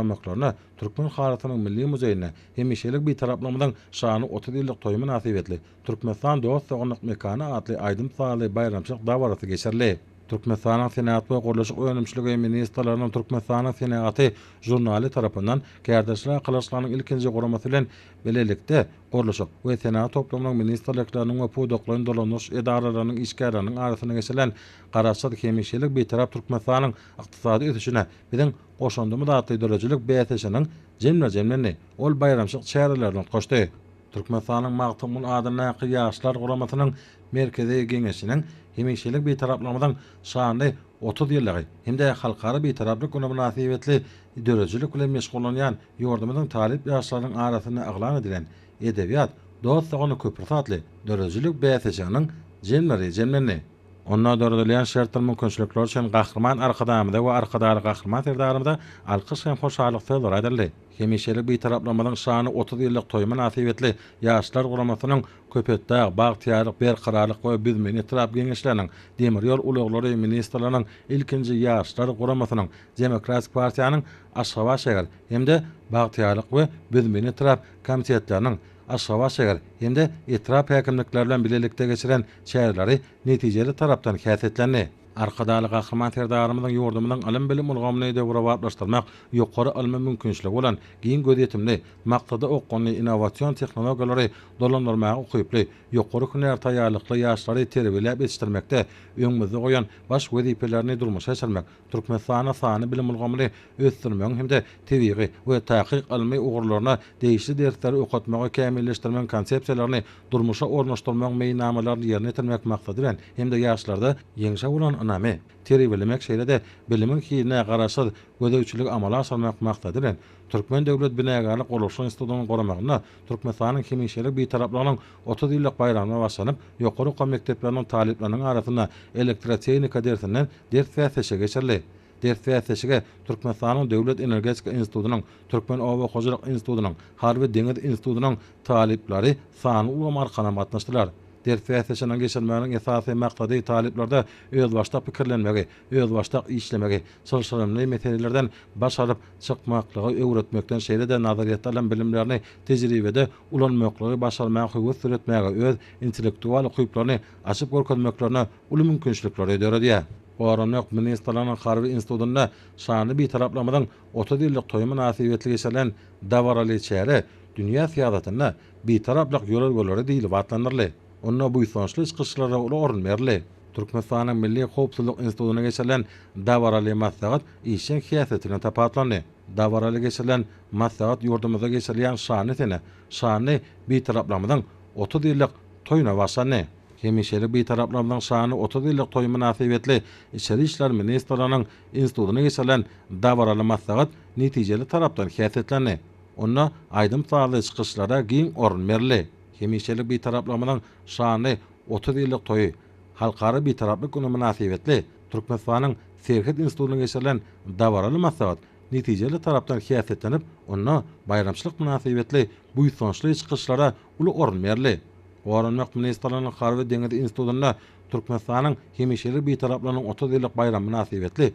ýatlamaklaryna Türkmen halysynyň milli muzeýinde Hemişelik Bitaraplygymyzyň şanly otuz ýyllyk toýy mynasybetli Türkmenistan dost-doganlyk mekany atly aýdym-sazly baýramçylyk dabarasy geçirildi. Türkmenistanyň Senagat we gurluşyk önümçiligi ministrleriniň Türkmenistanyň senagaty žurnaly tarapyndan Kärdeşler arkalaşyklarynyň ilkinji guramasy bilen bilelikde gurluşyk we senagat toplumynyň ministrlikleriniň we pudaklaýyn dolandyryş edaralarynyň işgärleriniň arasynda geçirilen Garaşsyz, hemişelik Bitarap Türkmenistanyň ykdysady ösüşine biziň goşandymyz atly döredijilik bäsleşiginiň jemle-jemlendi ol baýramçylyk çärelerini utgaşdy. Türkmenistanyň Magtymguly adyndaky Ýaşlar guramasynyň Merkezi Geňeşiniň hemişelik Bitaraplygymyzyň şanly otuz ýyllygy hem-de Halkara Bitaraplyk güni mynasybetli döredijilik bilen meşgullanýan ýurdumyzyň talyp ýaşlarynyň arasynda yglan edilen Edebiýat, dost-dogana köprüsi atly döredijilik bäsleşiginiň jemleri jemlendi. Onda döredilýän şertler mümkinçilikler üçin Gahryman Arkadagymyza we Arkadagly Gahryman Serdarymyza alkyş hem hoşallyk sözleri aýdyldy. Hemişelik Bitaraplygymyzyň şanly otuz ýyllyk toýy mynasybetli Ýaşlar guramasynyň Köpetdag, Bagtyýarlyk, Berkararlyk we Büzme etrap Geňeşleriniň, Demir ýol ulaglary ministrliginiň ilkinji Ýaşlar guramasynyň, Demokratik partiýanyň Aşgabat şäher hem-de Bagtyýarlyk we Büzme etrap komitetleriniň, Aşgabat şäher hem-de etrap häkimlikleri bilen bilelikde geçiren çäreleri netijeli tarapdan häsiýetlendi. Arkadagly Gahryman Serdarymyzyň ýurdumyzyň ylym-bilim ulgamyny döwrebaplaşdyrmak, ýokary ylmy mümkinçiligi bolan, giň gözýetimli, maksada okgunly, innowasion tehnologiýalary dolandyrmaga ukyply, ýokary hünär taýýarlykly ýaşlary terbiýeläp ýetişdirmekde öňümizde goýan baş wezipelerini durmuşa geçirmek Türkmenistanda sanly bilim ulgamyny ösdürmegiň hem-de tebigy we takyk ylmy ugurlaryna degişli dersleri okatmagy kämilleşdirmegiň konsepsiýalaryny durmuşa ornaşdyrmagyň meýilnamalaryny ýerine ýetirmek maksady bilen hem-de ýaşlarda ýeňşe bolan ynamy terbiýelemek, şeýle-de bilimiň hiline garaşsyz gözegçiligi amala aşyrmak maksady bilen, Türkmen döwlet binagärlik gurluşyk institutynyň guramagynda Türkmenistanyň hemişelik Bitaraplygynyň otuz ýyllyk baýramyna baglanyp, ýokary okuw mekdepleriniň talyplarynyň arasynda elektrotehnika dersinden ders bäsleşigi geçirildi. Ders bäsleşige Türkmenistanyň Döwlet energetika institutynyň, Türkmen oba hojalyk institutynyň, Harby-deňiz institutynyň talyplary sanly ulgam arkalam gatnaşdylar. Ders bäsleşiniň geçirilmeginiň esasy maksady talyplarda özbaşdak pikirlenmegi, özbaşdak işlemegi, çylşyrymly meselelerden baş alyp çykmaklygy öwretmekden, şeýle-de nazaryýetde alan bilimlerini tejribede ulanmaklygy başarmaga höwes döretmäge, öz intellektual ukyplaryny açyp görkezmeklerine uly mümkinçilikleri döredýär. Goranmak ministrliginiň Harby institutynda şanly Bitaraplygymyzyň otuz ýyllyk toýy mynasybetli geçirilen dabaraly çäre Dünýä syýasatynda Bitaraplyk ýörelgeleri diýlip atlandyryldy. Onda buýsançly çykyşlara uly orun berildi. Türkmenistanyň Milli howpsuzlyk institutynda geçirilen dabaraly maslahat işjeň syýasat bilen tapawutlandy. Dabaraly geçirilen maslahat ýurdumyzda geçirilýän şanly sene, şanly Bitaraplygymyzyň otuz ýyllyk toýuna bagyşlandy. Hemişelik Bitaraplygymyzyň şanly otuz ýyllyk toýy mynasybetli Içeri işler ministrliginiň institutynda geçirilen dabaraly maslahat netijeli tarapdan häsiýetlendi. Onda aýdym-sazly çykyşlara giň orun berildi. Hemişelik Bitaraplygymyzyň şanly Otuz ýyllyk toýy, Halkara Bitaraplyk güni mynasybetli Türkmenistanyň Serhet institutynda geçirilen dabaraly maslahat netijeli tarapdan häsiýetlenip, onda baýramçylyk mynasybetli buýsançly çykyşlara uly orun berildi. Goranmak ministrliginiň Harby-deňiz institutynda Türkmenistanyň hemişelik Bitaraplygynyň otuz ýyllyk baýramy mynasybetli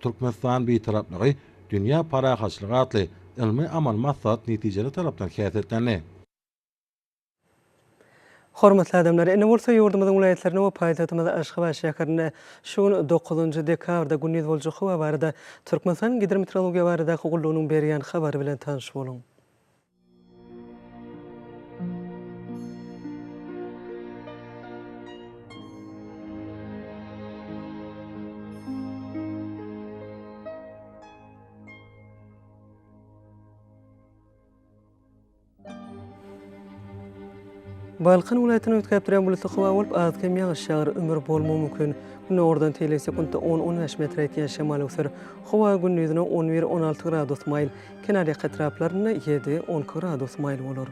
Türkmenistan Bitaraplygy, dünýä parahatçylygy atly ylmy-amaly maslahat netijeli tarapdan häsiýetlendi. Hormatly adamlar, indi bolsa ýurdumyzyň welaýatlaryna we paýtagtymyz Aşgabat şäherine şu gün, dokuzynjy dekabrda gündiz boljak howa barada Türkmenistanyň Gidrometeorologiýa baradaky gullugynyň berýän habary bilen tanyş boluň. Balkan welaýatyny üýtgäpdirýän bulutly howa bolup, az-kem ýagyş ýagar, ümür bolmagy mümkin. Gündogardan teýleg sekuntda on-on bäş metre ýetýän şemal öwser. Howa gündizine on bir-on alty gradus maýyl, kenarýaka etraplarynda ýedi-on iki gradus maýyl bolar.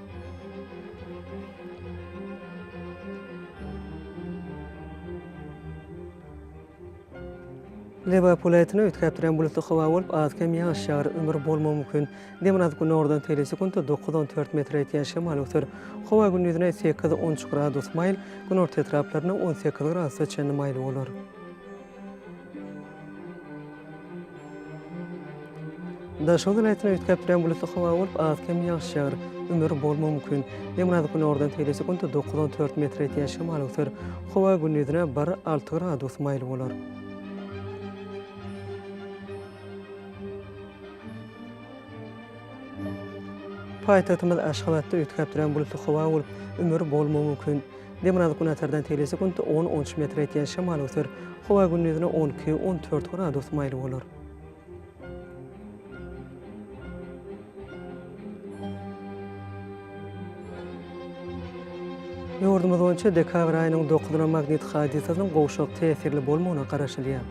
Lebap welaýatyna üýtgäp duran bulutly howa bolup, az-kem ýagyş ýagar, ümür bolmagy mümkin. Demir az günordan seli sekuntda dokuz-on dört metre ýetýän şemal öser. Howa gündizine sekiz-on üç gradus maýyl, günorta etraplarynda on sekiz gradusa çenli maýyl bolar. Daşoguz welaýatyna üýtgäp duran bulutly howa bolup, az-kem ýagyş ýagar. Ümür bolmagy mümkin. Demirgazyk günordan tegelesi sekunda dokuz on dört metr ýetýän şemal öwser. Howa gündizine bir alty gradus maýyl bolar. Paýtagtymyz Aşgabatda üýtgäp duran bulutly howa bolup, ümür bolmagy mümkin. Demirgazyk Günbatardan tel sekuntda on, on üç metre etýän şemal öser. Howa gündizine on iki, on dört gradus maýyl bolar. Ýurdumyz boýunça dekabr aýynyň dokuzyna magnit hadysasynyň gowşak täsirli bolmagyna garaşylýar.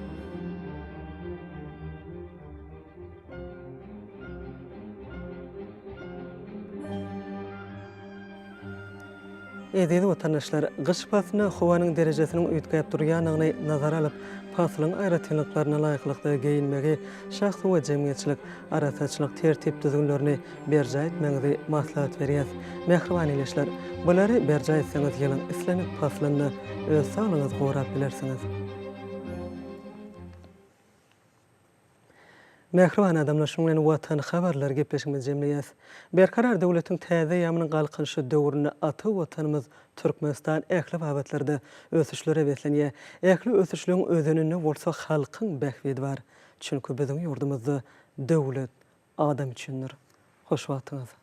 Eziz watandaşlar, gyş paslyna howanyň derejesiniň üýtgäp durýandygyny nazara alyp, paslyň aýratynlyklaryna laýyklykda geýinmegi, şahsy we jemgyýetçilik arassaçylyk tertip-düzgünlerini berjaý etmegiňizi maslahat berýäs. Mähriban ildeşler, bulary berjaý etseňiz ýylyň islendik paslynda öz saglygyňyzy gorap bilersiňiz. Mähriban adamlar şunuň bilen Watan habarlary gepleşigimizi jemleýäs. Berkarar döwletiň täze eýýamynyň Galkynyşy döwründe ata Watanymyz Türkmenistan ähli babatlarda ösüşlere beslenýär. Ähli ösüşligiň özeninde bolsa halkyň bähbidi bar. Çünki biziň ýurdumyzda Döwlet adam üçindir. Hoş wagtyňyz.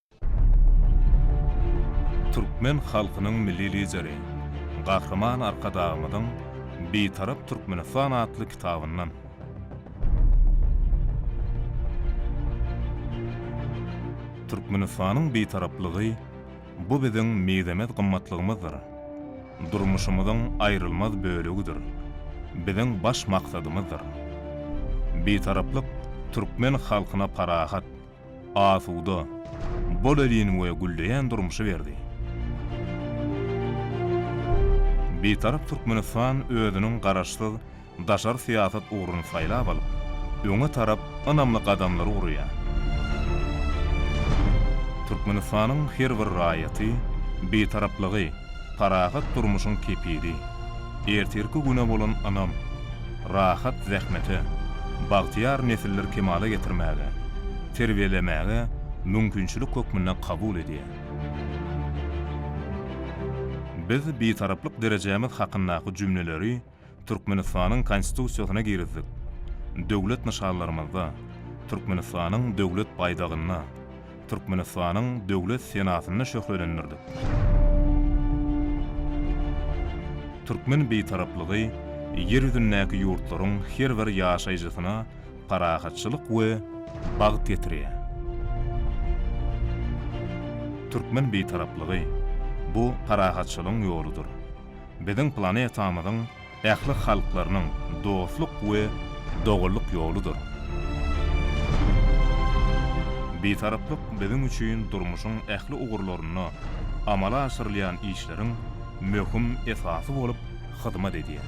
Türkmen halkynyň Milli Lideri, Gahryman Arkadagymyzyň Bitarap Türkmenistan atly kitabyndan. Türkmenistanyň Bitaraplygy, bu biziň mizemez gymmatlygymyzdyr. Durmuşymyzyň aýrylmaz bölegidir. Biziň baş maksadymyzdyr. Bitaraplyk türkmen halkyna parahat, asuda, bolelin we gülleýän durmuşy berdi. Bitarap Türkmenistan özüniň garaşsyz daşary syýasat ugruny saýlap alyp, öňe tarap ynamly gadamlar urýar. Türkmenistanyň her bir raýaty Bitaraplygy, parahat durmuşyň kepili, ertirki güne bolan ynam, rahat zähmete, bagtyýar nesiller kemala getirmäge, terbiýelemäge mümkinçilik hökmünde kabul edýär. Biz Bitaraplyk derejämiz hakyndaky jümleleri Türkmenistanyň Konstitusiýasyna girizdik, döwlet nyşanlarymyzda, Türkmenistanyň Döwlet baýdagynda, Türkmenistanyň Döwlet senasynda şöhlelendirdik. Türkmen Bitaraplygy Ýer ýüzündäki ýurtlaryň her bir ýaşaýjysyna parahatçylyk we bagt getirýär. Türkmen Bitaraplygy, bu parahatçylygyň ýoludyr. Biziň planetamyzyň ähli halklarynyň dostluk we doganlyk ýoludyr. Bitaraplyk biziň üçin durmuşyň ähli ugurlarynda amala aşyrylýan işleriň möhüm esasy bolup hyzmat edýär.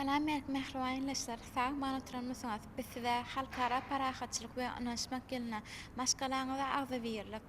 Salam berk mähriban ildeşler! Sag-aman oturanmysyňyz? Biz size Halkara parahatçylyk we ynanyşmak ýylyna, maşgalaňyza agzybirlik,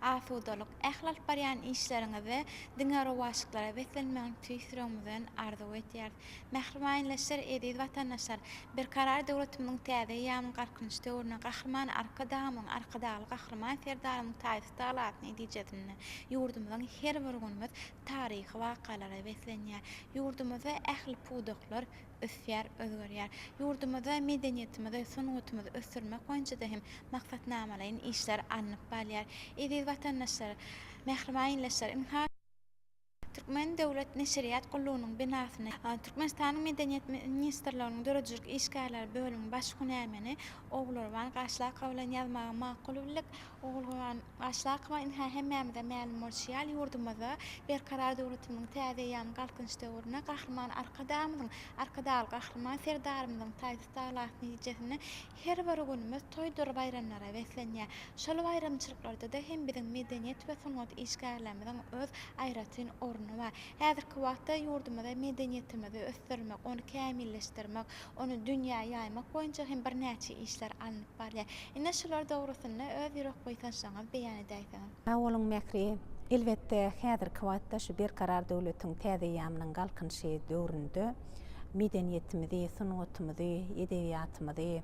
asudalyk, ähli alyp barýan işleriňizde diňe rowaçlyklara beslenmegiňizi tüýs ýüregimizden arzuw edýäris. Mähriban ildeşler, eziz watandaşlar! Berkarar döwletimiziň täze eýýamynyň Galkynyş döwründe Gahryman Arkadagymyzyň, Arkadagly Gahryman Serdarymyzyň taýsyz tagalasy netijesinde ýurdumyzyň her bir günümiz taryhy wakalara beslenýär. Ýurdumyzda ähli pudaklar, ösýär, özgerýär. Ýurdumyzda medeniýetimizi, sungatymyzy ösdürmek boýunça-da hem maksatnamalaýyn işler alnyp balýar. Eziz watandaşlar, mähriban ildeşler, ynha, Türkmen döwlet neşirýat gullugynyň binasyny Türkmenistanyň Medeniýet ministrliginiň döredijilik işgärleri bölümiň baş hünärmeni Ogulgurban Gaşlakow bilen ýazmagy makul bildik. Ogulgurban Başda akmaýyn-hä hemmämize mälim bolşy ýaly ýurdumyzda Berkarar döwletimiziň täze eýýamy Galkynyş döwründe Gahryman Arkadagymyzyň, Arkadagly Gahryman Serdarymyzyň taýsyz tagalasy netijesinde her bir günümiz toýdur baýramlara beslenýär. Şol baýramçylyklarda-da hem biziň medeniýet we sungat işgärlerimiziň öz aýratyn orny bar. Häzirki wagtda ýurdumyzda medeniýetimizi ösdürmek, ony kämilleşdirmek, Ony dünýä ýaýmak boýunça hem birnäçe işler alnyp barylýar. Ine, şular dogrusynda öz ýürek buýsançlaryňyzy beýan edäýseňiz. Sag boluň Mähri! Elbetde, häzirki wagtda şu Berkarar döwletiň täze eýýamynyň Galkynyşy döwründe medeniýetimizi, sungatymyzy, edebiýatymyzy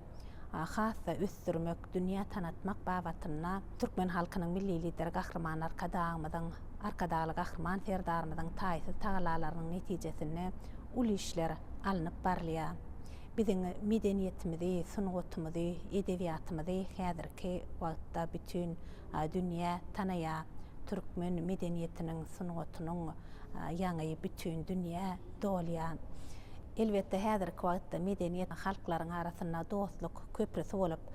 has-da ösdürmek, dünýä tanatmak babatynda türkmen halkynyň Milli Lideri Gahryman Arkadagymyzyň, Arkadagly Gahryman Serdarymyzyň taýsyz tagalalarynyň netijesinde uly işler alnyp barylýar. Biziň medeniýetimizi, sungatymyzy, edebiýatymyzy häzirki wagtda bütin dünýä tanaýar. Türkmen medeniýetiniň, sungatynyň ýaňy bütin dünýä dolýar. Elbetde, häzirki wagtda medeniýet halklaryň arasynda dostluk köprüsi bolup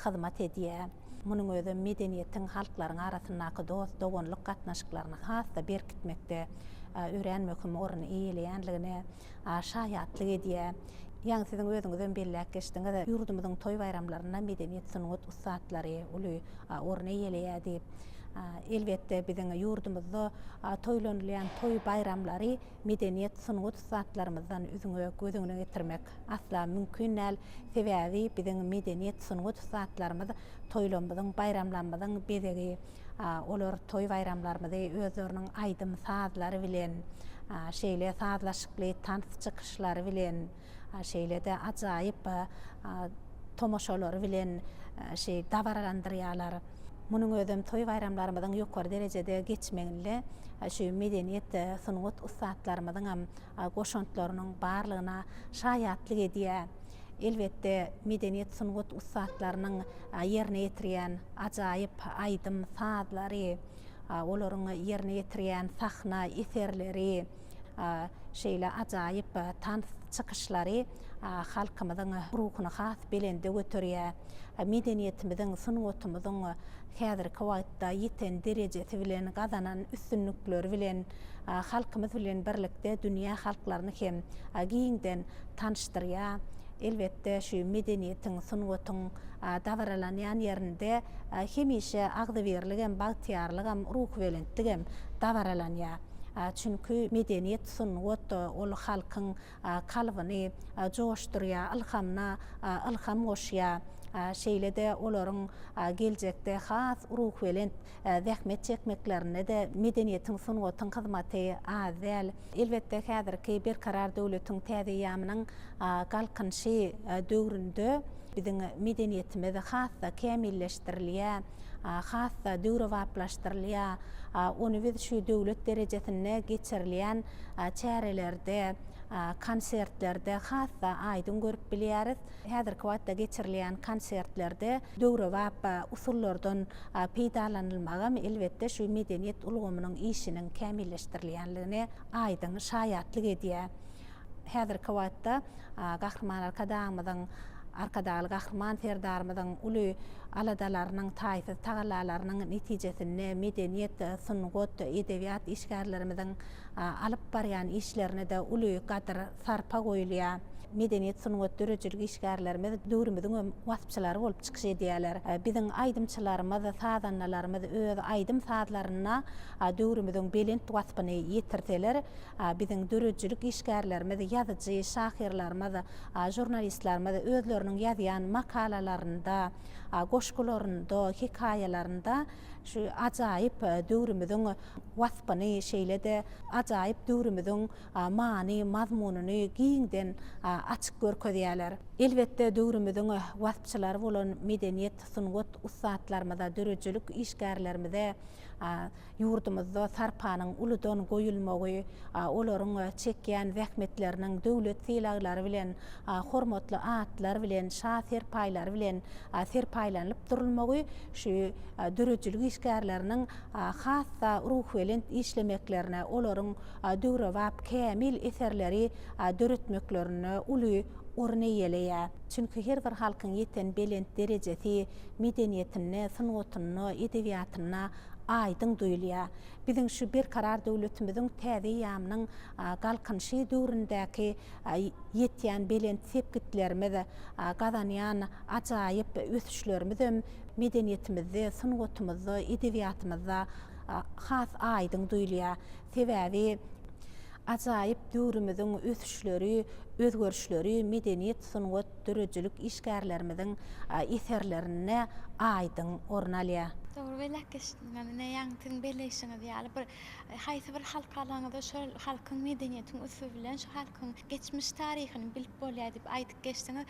hyzmat edýär. Munuň özi medeniýetiň, halklaryň arasyndaky dost-doganlyk gatnaşyklaryny has-da berkitmekde örän möhüm orny eýeleýändigine şaýatlyk edýär. Ýaňy siziň özüňizem belläp geçdiňiz, ýurdumyzyň toý-baýramlarynda medeniýet-sungat ussatlary uly orun eýeleýär diýip. Elbetde, biziň ýurdumyzda toýlanylýan toý-baýramlary medeniýet-sungat ussatlarymyzdan üzňe göz öňüne getirmek asla mümkin däl. Sebäbi biziň medeniýet, sungat ussatlarymyz toýlarymyzyň, baýramlarymyzyň bezegi. Olar toý-baýramlarymyzy özleriniň aýdym-sazlary bilen, şeýle sazlaşykly tans çykyşlary bilen, şeýle-de ajaýyp tomaşalary bilen şeý dabaralandyrýarlar. Munuň özem toý-baýramlarymyzyň ýokary derejede geçmeginde şu medeniýet, sungat ussatlarymyzyňam goşantlarynyň barlygyna şaýatlyk edýär. Elbetde, medeniýet-sungat ussatlarynyň ýerine ýetirýän ajaýyp aýdym sazlary, olaryň ýerine ýetirýän sahna eserleri, şeýle ajaýyp tans çykyşlary halkymyzyň ruhuny has belende göterýär. Medeniýetimiziň, sungatymyzyň häzirki wagtda ýeten derejesi bilen, gazanan üstünlikleri bilen halkymyz bilen birlikde dünýä halklaryny hem giňden tanyşdyrýar. Elbetde, şu medeniýetiň, sungatyň dabaralanýan ýerinde hemişe agzybirligem, bagtyýarlygam, ruhubelentligem dabaralanýar. Çünki medeniýet, sungat, ol halkyň kalbyny joşdurýar, ylhamyna ylham goşýar. Şeýle-de olaryň geljekde has ruhubelent zähmet çekmeklerinde-de medeniýetiň, sungatyň hyzmaty az däl. Elbetde, häzirki Berkarar döwletiň täze eýýamynyň Galkynyşy döwründe biziň medeniýetimiz has-da kämilleşdirilýär, has-da döwrebaplaşdyrylýar. Ony biz şu döwlet derejesinde geçirilýän çärelerde, konsertlerde has-da aýdyň görüp bilýäris. Häzirki wagtda geçirilýän konsertlerde döwrebap usullardan peýdalanylmagam, elbetde, şu medeniýet ulgamynyň işiniň kämilleşdirilýändigine aýdyň şaýatlyk edýär. Häzirki wagtda Gahryman Arkadagymyzyň, Arkadagly Gahryman Serdarymyzyň uly aladalarynyň, taýsyz tagallalarynyň netijesinde medeniýet, sungat, edebiýat işgärlerimiziň alyp barýan işlerine-de uly gadyr-sarpa goýulýar. Medeniýet, sungat, döredijilik işgärlerimiz döwrümiziň hem waspçylary bolup çykyş edýärler. Biziň aýdymçylarymyz, sazandalarymyz öz aýdym-sazlarynda döwrümiziň belent waspyny ýetirseler, Biziň döredijilik işgärlerimiz, ýazyjy, şahyrlarymyz, žurnalistlerimiz özleriniň ýazýan makalalarynda, goşgularynda, hekaýalarynda şu ajaýyp döwrümiziň waspyny, şeýle-de ajaýyp döwrümiziň many, mazmunyny giňden açyp görkezýärler. Elbetde, döwrümiziň waspçylary bolan medeniýet, sungat ussatlarymyza, döredijilik işgärlerimize Ýurdumyzda sarpanyň uludan goýulmagy, olaryň çekýän zähmetleriniň döwlet sylaglary bilen, hormatly atlar bilen, şa serpaýlary bilen serpaýlanylyp durulmagy şu döredijilik işgärleriniň has-da ruhubelent işlemeklerine, olaryň döwrebap kämil eserleri döretmeklerine uly orun eýeleýär. Çünki her bir halkyň ýeten belent derejesi medeniýetinde, sungatynda, edebiýatynda aýdyň duýulýar. Biziň şu Berkarar döwletimiziň täze eýýamynyň Galkynyşy döwründäki ýetýän belent sepgitlerimiz, gazanýan ajaýyp ösüşlerimizem medeniýetimizde, sungatymyzda, edebiýatymyzda has aýdyň duýulýar. Sebäbi. Ajaýyp döwrümiziň ösüşleri, özgerişleri medeniýet, sungat, döredijilik işgärlerimiziň eserlerinde aýdyň orun alýar. Dogry belek geçdiňiz. Ine, ýaňy siziň belleýşiňiz ýaly, bir haýsy bir halk alaňyzda şol halkyň medeniýetiň üsti bilen şu halkyň geçmiş taryhyny bilip bolýar diýip aýdyp geçdiňiz.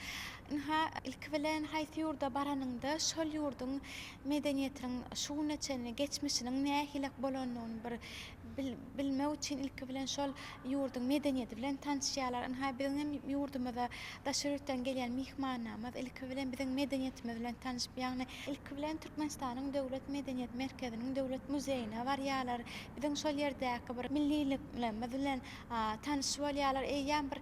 Ynha, ilki bilen haýsy ýurda baranyňda şol ýurduň medeniýetiniň şu güne çenli geçmişiniň nähilek bolandygyny bir bilmek üçin ilki bilen şol ýurduň medeniýeti bilen tanyşýarlar. Ynha, biziň hem ýurdumyza daşary ýurtdan gelýän myhmanlarymyz ilki bilen biziň medeniýetimiz bilen tanyşyp, ýagny ilki bilen Türkmenistanyň Döwlet medeniýet merkeziniň Döwlet muzeýine barýarlar. Biziň şol ýerdäki bir milliliklerimiz bilen tanyş bolýarlar. Eýýäm bir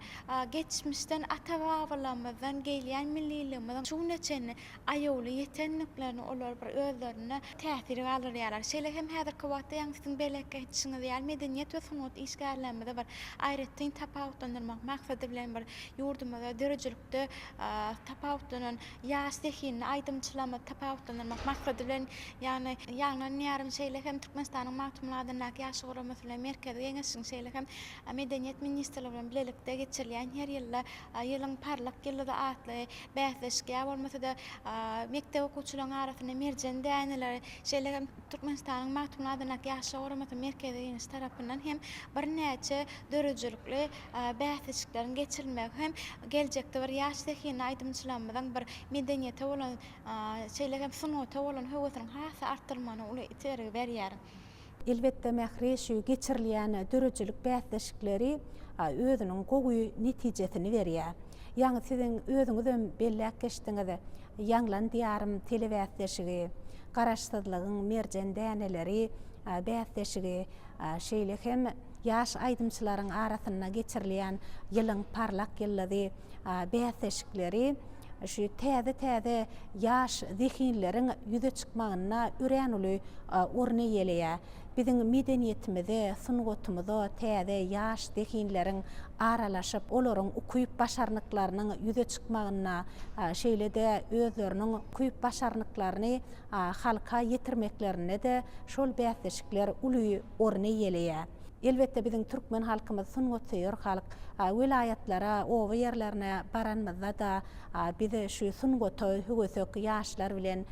geçmişden, ata-babalarymyzdan gelýän milliligimiziň şu güne çenli aýawly ýetendiklerini olar bir özlerinde täsir galdyrýarlar. Şeýle hem häzirki wagtda ýaňy siziň belek aýdyşyňyz ýaly ýedeniýet we sungat işgärlerimizi bir aýratyn tapawutlandyrmak maksady bilen bir ýurdumyzda döredijilikde tapawutlanan ýaş zehinli aýdymçylarymyzy tapawutlandyrmak maksady bilen ýagny ýaňlanýaryn. Şeýle hem Türkmenistanyň Magtymguly adyndaky Ýaşlar guramasy bilen Merkezi Geňeşiň şeýle hem Medeniýet ministrligi bilen bilelikde geçirilýän her ýylda Ýylyň parlak ýyldyzy atly Bäsleşik ýa bolmasa-da mekdep okuwçylaryň arasynda merjen däneleri, şeýle hem Türkmenistanyň Magtymguly adyndaky Ýaşlar guramasynyň Merkezi Geňeşi tarapyndan hem birnäçe döredijilikli bäsleşikleriň geçirilmegi hem geljekde bir ýaş zehinli aýdymçylarymyzyň bir medeniýete bolan, şeýle hem sungata bolan höwesiniň has-da artdyrylmagyna uly itergi berýär. Elbetde, Mähri şu geçirilýän döredijilik bäsleşikleri özüniň gowy netijesini berýär. Ýaňy siziň özüňizem belläp geçdiňiz, Ýaňlan diýarym telebäsleşigi, Garaşsyzlygyň merjen däneleri bäsleşigi, şeýle hem ýaş aýdymçylaryň arasynda geçirilýän Ýylyň parlak ýyldyzy bäsleşikleri. şu täze-täze ýaş zehinleriň ýüze çykmagynda örän uly orun eýeleýär. Biziň medeniýetimize, sungatymyza täze ýaş zehinleriň aralaşyp, olaryň ukyp-başarnyklarynyň ýüze çykmagynda, şeýle-de özleriniň ukyp-başarnyklaryny halka ýetirmeklerinde-de şol bäsleşikler uly orun eýeleýär. Elbetde biziň türkmen halkymyz sungatsöýer halk. Welaýatlara, oba ýerlerine baranymyzda-da biz şu sungata höwesek ýaşlar bilen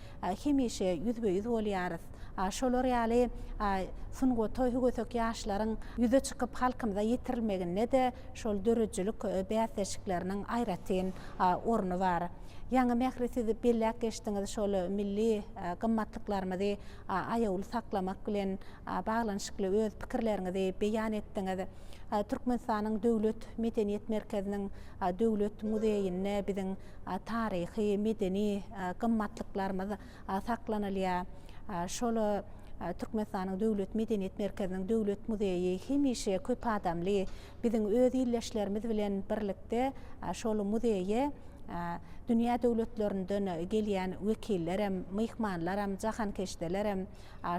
hemişe ýüzbe-ýüz bolýarys. Şolar ýaly sungata höwesek ýaşlaryň ýüze çykyp halkymyza ýetirilmeginde-de şol döredijilik bäsleşikleriniň aýratyn orny bar. Ýaňy Mähri siz belläp geçdiňiz şol milli gymmatlyklarymyzy aýawly saklamak bilen baglanyşykly öz pikirleriňizi beýan etdiňiz. Türkmenistanyň Döwlet medeniýet merkeziniň Döwlet muzeýinde biziň taryhy, medeni gymmatlyklarymyz saklanylýar. Şol Türkmenistanyň Döwlet medeniýet merkeziniň Döwlet muzeýi hemişe köp adamly, biziň öz ildeşlerimiz bilen birlikde şol muzeýe Dünýä döwletlerinden gelýän wekillerem, myhmanlaram, jahankeşdelerem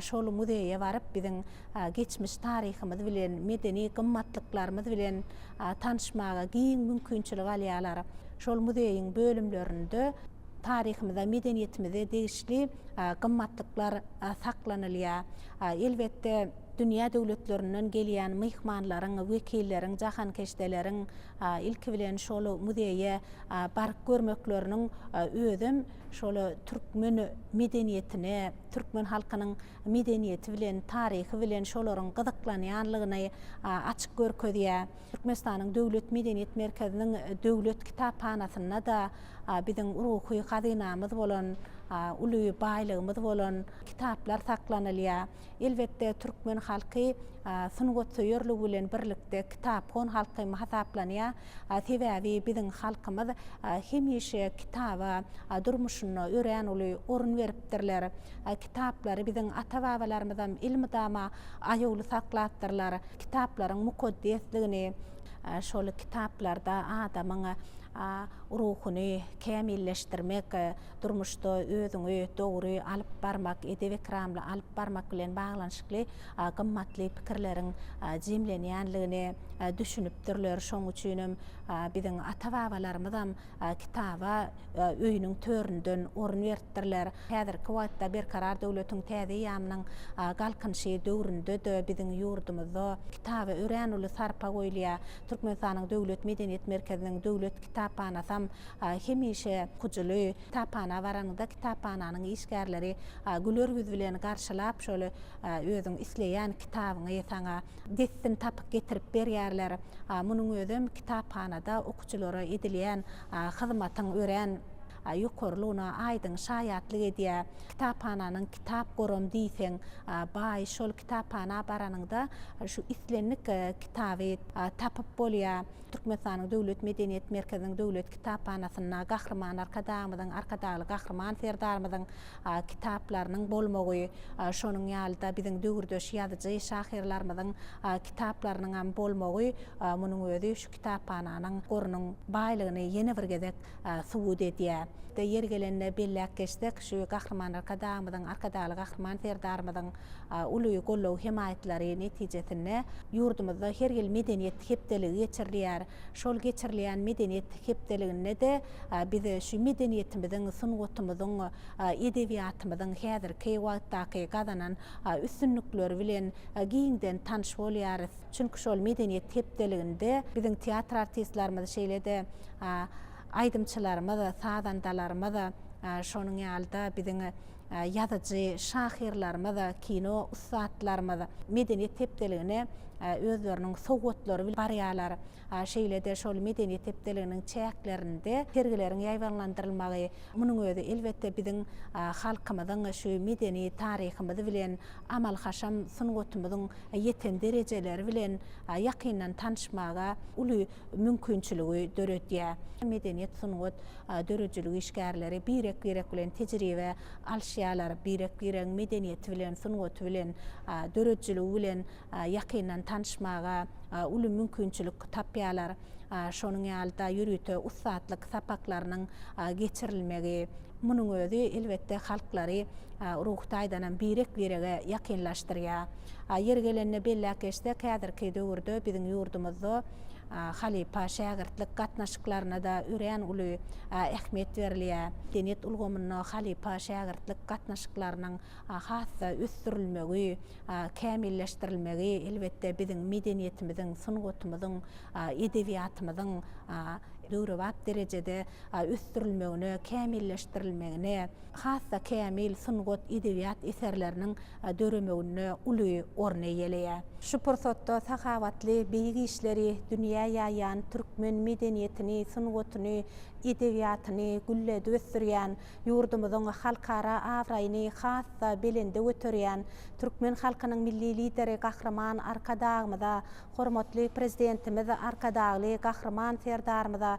şol muzeýe baryp, biziň geçmiş taryhymyz bilen, medeni gymmatlyklarymyz bilen tanyşmaga giň mümkinçilik alýarlar. Şol muzeýiň bölümlerinde taryhymyza, medeniýetimize degişli gymmatlyklar saklanylýar. Elbetde, dünýä döwletlerinden gelýän myhmanlaryň, wekilleriň, jahankeşdeleriň Ilki bilen şol muzeýe baryp görmekleriniň özem şol türkmen medeniýetine, türkmen halkynyň medeniýeti bilen, taryhy bilen şolaryň gyzyklanýanlygyny açyp görkezýär. Türkmenistanyň Döwlet medeniýet merkeziniň Döwlet kitaphanasynda-da biziň ruhy hazynamyz bolan, uly baýlygymyz bolan kitaplar saklanylýar. Elbetde, türkmen halky sungatsöýerligi bilen birlikde kitaphon halk hem hasaplanýar. Sebäbi biziň halkymyz hemişe kitaba durmuşynda örän uly orun beripdirler. Kitaplary biziň ata-babalarymyzam elmydama aýawly saklapdyrlar. Kitaplaryň mukaddesligini, şol kitaplarda adamyň ruhuny kämilleşdirmek, Durmuşda özüňi dogry alyp barmak, edep-ekramly alyp barmak bilen baglanyşykly gymmatly pikirleriň jemlenýänligine düşünipdirler. Şonuň üçin hem biziň ata-babalarymyzam kitaba öýüniň töründen orun beripdirler. Häzirki wagtda Berkarar döwletiň täze eýýamynyň Galkynyşy döwründe-de biziň ýurdumyzda kitaba örän uly sarpa goýulýar. Türkmenistanyň Döwlet medeniýet merkeziniň Döwlet kitaphanasam Hemişe okucyly kitaphana baraňyzda kitaphananyň işgärleri güler ýüz bilen garşylap şol özüň isleýän kitabyňy saňa dessin tapyp getirip berýärler. Munuň özem kitaphanada okucylara edilýän hyzmatyň örän ýokarylygyna aýdyň şaýatlyk edýär. Kitaphananyň kitap goram diýseň baý. Şol kitaphana baranyňda şu islendik kitaby tapyp bolýar. Türkmenistanyň Döwlet medeniýet merkeziniň Döwlet kitaphanasynda Gahryman Arkadagymyzyň, Arkadagly Gahryman Serdarymyzyň kitaplarynyň bolmagy, şonuň ýaly-da biziň döwürdeş ýazyjy, şahyrlarymyzyň kitaplarynyňam bolmagy munuň özi şu kitaphananyň gorunyň baýlygyny ýene bir gezek subut edýär. Ýeri gelende belläp geçsek, şu Gahryman Arkadagymyzyň, Arkadagly Gahryman Serdarymyzyň uly goldaw-hemaýatlary netijesinde, ýurdumyzda her ýyl Medeniýet hepdeligi geçirilýär. Şol geçirilýän Medeniýet hepdeliginde-de biz şu medeniýetimiziň, sungatymyzyň, edebiýatymyzyň häzirki wagtdaky gazanan üstünlikleri bilen giňden tanyş bolýarys. Çünki şol Medeniýet hepdeliginde biziň teatr artistlerimiz, şeýle-de aýdymçylarymyz, sazandalarymyz, şonuň ýaly-da biziň Ýazyjy şahyrlarymyz, kino ussatlarymyz medeniýet hepdeligine özleriniň sowgatlary bilen barýarlar. Şeýle-de şol medeniýet hepdeliginiň çäklerinde sergileriň ýaýbaňlandyrylmagy, munuň özi elbetde biziň halkymyzyň şu medeni taryhymyz bilen, amal-haşam sungatymyzyň ýeten derejeleri bilen ýakyndan tanyşmaga uly mümkinçiligi döredýär. Medeniýet, sungat, döredijilik işgärleri birek-birek bilen tejribe alşýarlar, birek-biregiň medeniýeti bilen, sungaty bilen, döredijiligi bilen ýakyndan tanyşmaga uly mümkinçilik tapýarlar. Şonuň ýaly-da ýörite ussatlyk sapaklarynyň geçirilmegi, munuň özi elbetde halklary ruhy taýdanam birek-birege ýakynlaşdyrýar. A Ýeri gelende belläp geçsek, häzirki döwürde biziň ýurdumyzda halypa-şägirtlik gatnaşyklaryna-da örän uly ähmiýet berilýär. Medeniýet ulgamynda halypa-şägirtlik gatnaşyklarynyň has-da ösdürilmegi, kämilleşdirilmegi, elbetde, biziň medeniýetimiziň, sungatymyzyň, edebiýatymyzyň döwrebap derejede ösdürilmegine, kämilleşdirilmegine, has-da kämil sungat, edebiýat eserleriniň döremeginde uly orun eýeleýär. Şu pursatda sahawatly, beýik işleri dünýä ýaýýan, türkmen medeniýetini, sungatyny, edebiýatyny gülledip ösdürýän, ýurdumyzyň halkara abraýyny has-da belende göterýän türkmen halkynyň Milli Lideri Gahryman Arkadagymyza, hormatly Prezidentimiz Arkadagly Gahryman Serdarymyza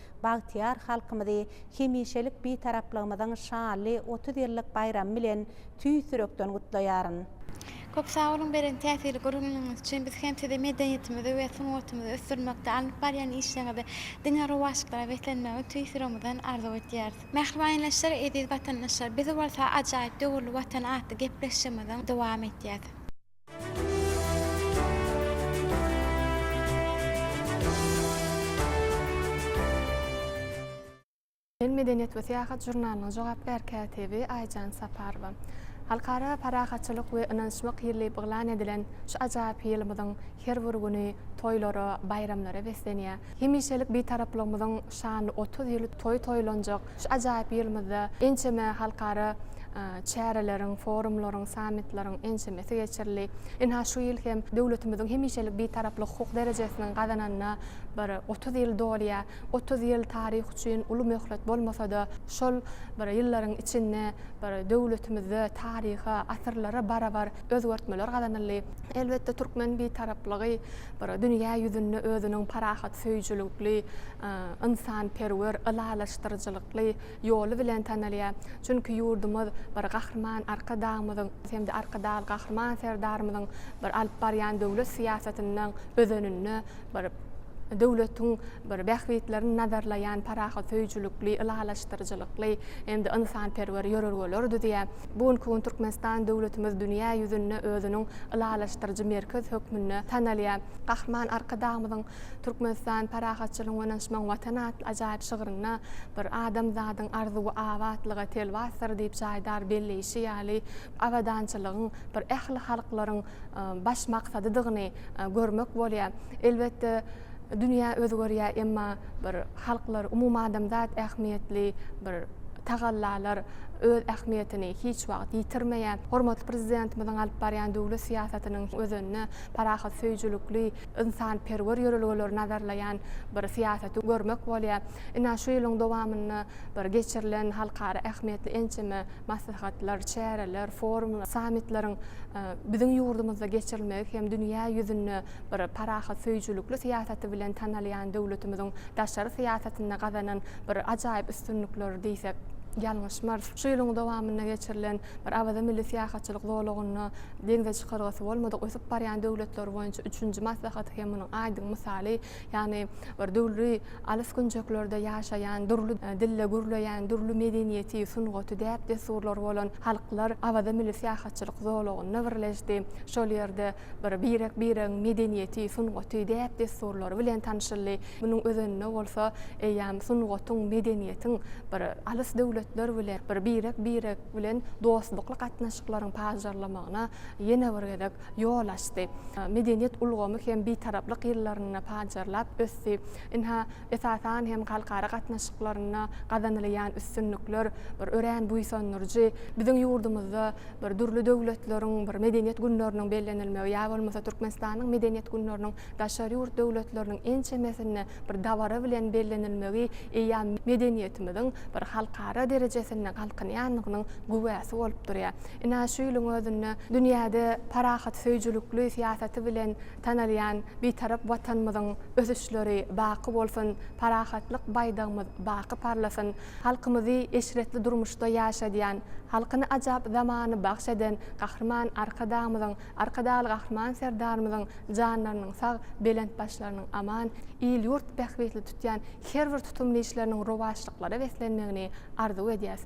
bagtyýar halkymyzy hemişelik Bitaraplygymyzyň şanly otuz ýyllyk baýramy bilen tüýs ýürekden gutlaýaryn. Köp sag boluň beren täsirli gürrüňleriňiz üçin! Biz hem sizi medeniýetimizi we sungatymyzy ösdürmekde alnyp barýan işleriňizde diňe rowaçlyklara beslenmegini tüýs ýüregimizden arzuw edýäris. Mähriban ýerleşler, eziz watandaşlar! Biz bolsa ajaýyp döwürli Watan atly gepleşigimiziň dowam etýäs. Sen medeniýet we syýahat žurnalynyň jogapkär kätibi Aýjan Saparowa. Halkara parahatçylyk we ynanyşmak ýylyýyp yglan edilen şu ajaýyp ýylymyzyň her bir güni toýlara, baýramlara beslenýär. Hemişelik Bitaraplygymyzyň şanly otuz ýyly toýy toýlanjak şu ajaýyp ýylymyzda ençeme halkara çäreleriň, forumlaryň, sammitleriň ençemesi geçirildi. Ynha, şu ýyl hem döwletimiziň hemişelik Bitaraplyk hukuk derejesiniň gazananyna bir otuz ýyl dolýar. Otuz ýyl taryh üçin uly möhlet bolmasa-da, şol bir ýyllaryň içinde bir döwletimizde taryha, asyrlara barabar özgertmeler gazanyldy. Elbetde türkmen Bitaraplygy bir dünýä ýüzünde özüniň parahatsöýüjilikli, ynsanperwer, ylalaşdyryjylykly ýoly bilen tanalýar. Çünki ýurdumyz bir Gahryman Arkadagymyzyň hem-de Arkadagly Gahryman Serdarymyzyň bir alyp barýan döwlet syýasatynyň özeninde bir döwletiň bir bähbitlerini nazarlaýan parahatsöýüjilikli, ylalaşdyryjylykly hem-de ynsanperwer ýörelgeleri düzýär. Bu günki gün Türkmenistan döwletimiz dünýä ýüzünde özüniň ylalaşdyryjy merkez hökmünde tanalýar. Gahryman Arkadagymyzyň Türkmenistan, parahatçylygyň we ynanyşmagyň Watany atly ajaýyp şygrynda bir adamzadyň arzuwy abatlyga telwasdyr diýip jaýdar belleýşi ýaly, abadançylygyň bir ähli halklaryň baş maksadydygyny görmek bolýar. Elbetde, Dünýä özgerýär, emma bir halklar, umumadamzat ähmiýetli bir tagallalar öz ähmiýetini hiç wagt ýitirmeýär. Hormatly Prezidentimiziň alyp barýan döwlet syýasatynyň özeninde parahatsöýüjilikli, ynsanperwer ýörelgeleri nazarlaýan bir syýasaty görmek bolýar. Ine, şu ýylyň dowamynda bir geçirilen halkara ähmiýetli ençeme maslahatlar, çäreler, forumlar, sammitleriň biziň ýurdumyzda geçirilmegi hem dünýä ýüzünde, bir parahatsöýüjilikli syýasaty bilen tanalýan döwletimiziň daşary syýasatynda gazanan bir ajaýyp üstünlikleri diýsek, ýalňyşmarys. Şu ýylyň dowamynda geçirilen bir Awaza milli syýahatçylyk zolagynda deňze çykalgasy bolmadyk ösüp barýan döwletler boýunça üçünji maslahaty hem munuň aýdyň mysaly, ýagny bir dürli alys künjeklerde ýaşaýan, dürli dilde gürleýän, dürli medeniýeti, sungaty, däp-dessurlary bolan halklar Awaza milli syýahatçylyk zolagynda birleşdi, şol ýerde Bir birek-biregiň medeniýeti, sungaty, däp-dessurlary bilen tanşyldy. Munuň özeninde bolsa eýýäm sungatyň, medeniýetiň bir alys döwletler bilen, bir birek-birek bilen dostlukly gatnaşyklaryň pajarlamagyna ýene bir gezek ýol açdy. Medeniýet ulgamy hem Bitaraplyk ýyllarynda pajarlap ösdi. Ynha, Esasan hem halkara gatnaşyklarynda gazanylýan üstünlikler bir örän buýsandyryjy. Biziň ýurdumyzda bir dürli döwletleriň bir medeniýet günleriniň bellenilmegi ýa bolmasa Türkmenistanyň medeniýet günleriniň daşary ýurt döwletleriniň ençemesinde bir dabara bilen bellenilmegi eýýäm medeniýetimiziň bir halkara derejesinde galkynýandygynyň güwäsi bolup durýar. Ine, şu ýylyň özünde dünýäde parahatsöýüjilikli syýasaty bilen, Tanalýan Bitarap Watanymyzyň ösüşleri baky bolsun, parahatlyk baýdagymyz baky parlasyn! Halkymyzy eşretli durmuşda ýaşadýan, halkyna ajap zamany bagş eden Gahryman Arkadagymyzyň, Arkadagly Gahryman Serdarymyzyň janlarynyň sag, belent başlarynyň aman, il-ýurt bähbitli tutýan her bir tutumly işleriniň rowaçlyklara beslenmegini arzuw edýäs.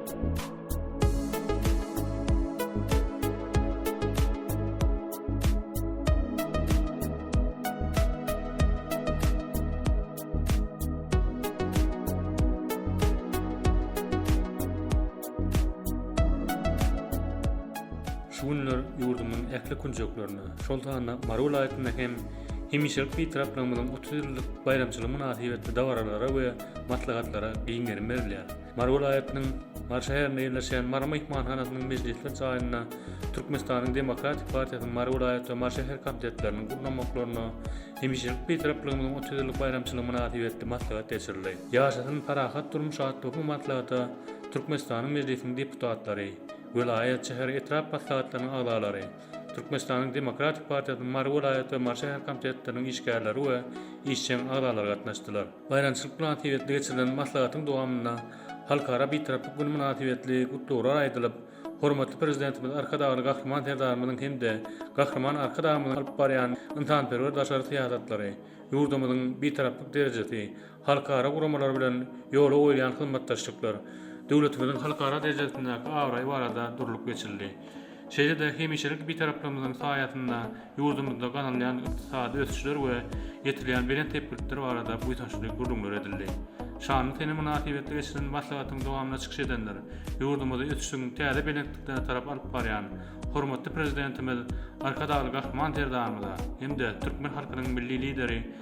Şu günler ýurdumyň ähli künjeklerinde, şol sanda Mary welaýatynda hem hemişelik Bitaraplygyň otuz ýyllyk baýramçylygy mynasybetli dabaralara we maslahatlara giň gerim berilýär. Mary welaýatynyň Mary şäherinde ýerleşýän Mary myhmanhanasynyň mejlisler jaýynda Türkmenistanyň Demokratik partiýasynyň Mary welaýat we Mary şäher komitetleriniň gurnamaklarynda hemişelik Bitarapligimiziň otuz ýyllyk baýramçylygy mynasybetli maslahat geçirildi. Ýaşasyn parahat durmuş atly bu maslahata Türkmenistanyň Mejlisiniň deputatlary, welaýat, şäher, etrap maslahatlarynyň agzalary, Türkmenistanyň Demokratik partiýasynyň Mary welaýat we Mary şäher komitetleriniň işgärleri we işjeň agzalary gatnaşdylar. Baýramçylyk mynasybetli geçirilen maslahatyň dowamynda Halkara Bitaraplyk güni mynasybetli gutlaglar aýdylyp, hormatly Prezidentimiz Arkadagly Gahryman Serdarymyzyň hem-de Gahryman Arkadagymyzyň alyp barýan ynsanperwer daşary syýasatlary, ýurdumyzyň Bitaraplyk derejesi, halkara guramalary bilen ýola goýulýan hyzmatdaşlyklar, döwletimiziň halkara derejesindäki abraýy barada durlup geçildi. Şeýle-de hemişelik Bitaraplygymyzyň saýasynda ýurdumyzda gazanylýan ykdysady ösüşler we ýetilýän belent sepgitler barada buýsançly gürrüňler edildi. Şanly sene mynasybetli geçirilen maslahatyň dowamynda çykyş edenler ýurdumyzy ösüşiň täze belentliklerine tarap alyp barýan hormatly Prezidentimiz Arkadagly Gahryman Serdarymyza hem-de türkmen halkynyň Milli Lideri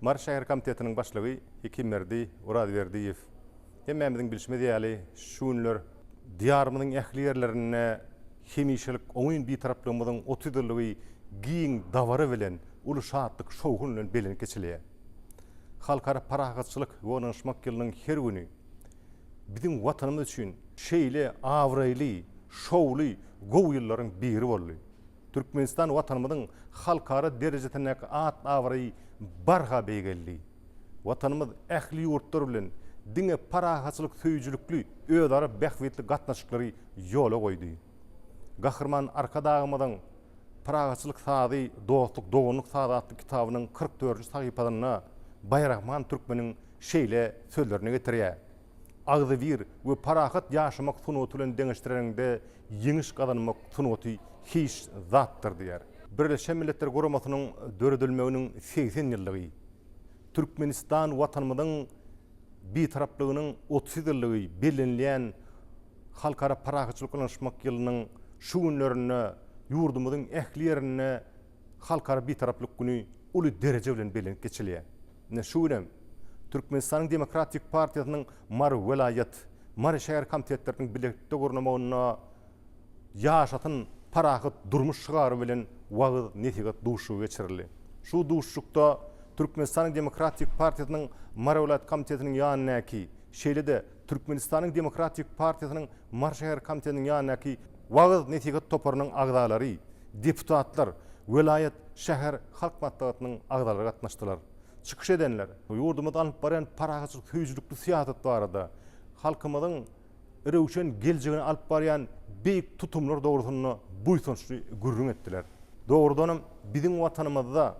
Mary şäher komitetiniň başlygy Hekimberdi Orazberdiýew hemmämiziň bilşimiz ýaly, şu günler Diýarymyzyň ähli ýerlerinde hemişelik oňyn Bitaraplygymyzyň otuz ýyllygy giň dabara bilen, uly şatlyk-şowhun bilen bellenip geçilýär. Halkara parahatçylyk we ynanyşmak ýylynyň her güni biziň Watanymyz üçin şeýle abraýly, şowly, gowy ýyllaryň biri boldy. Türkmenistan Watanymyzyň halkara derejesindäki at-abraýy barha beýgeldi. Watanymyz ähli ýurtlar bilen diňe parahatçylyk söýüjilikli özara bähbitli gatnaşyklary ýola goýdy. Gahryman Arkadagymyzyň Parahatçylyk sazy, dostluk, doganlyk sazy atly kitabynyň kyrk dördünji sahypasynda Baýrahman türkmeniň şeýle sözlerini getirýär. agzybir we parahat ýaşamak sungaty bilen deňeşdireniňde ýeňiş gazanmak sungaty hiç zatdyr diýýär. Birleşen Milletler Guramasynyň döredilmeginiň segsen ýyllygy, Türkmenistan Watanymyzyň Bitaraplygynyň otuz ýyllygy bellenilýän Halkara parahatçylyk ynanyşmak ýylynyň şu günlerinde ýurdumyzyň ähli ýerinde Halkara Bitaraplyk güni uly dereje bilen bellenip geçilýär. Ine, şu gün hem Türkmenistanyň Demokratik partiýasynyň Mary welaýat, Mary şäher komitetleriniň bilelikde gurnamagynda Ýaşasyn parahat durmuş şygary bilen wagyz-nesihat duşuşygy geçirildi. Şu duşuşykda Türkmenistanyň Demokratik partiýasynyň Mary welaýat komitetiniň ýanyndaky, şeýle-de Türkmenistanyň Demokratik partiýasynyň Mary şäher komitetiniň ýanyndaky wagyz-nesihat toparynyň agzalary, deputatlar, welaýat, şäher halk maslahatynyň agzalary gatnaşdylar. Çykyş edenler, ýurdumyz alyp barýan parahatçylyk söýüjilikli syýasat barada, halkymyzyň röwşen geljegine alyp barýan beýik tutumlar dogrusynda buýsançly gürrüň etdiler. Dogrudanam, biziň Watanymyzda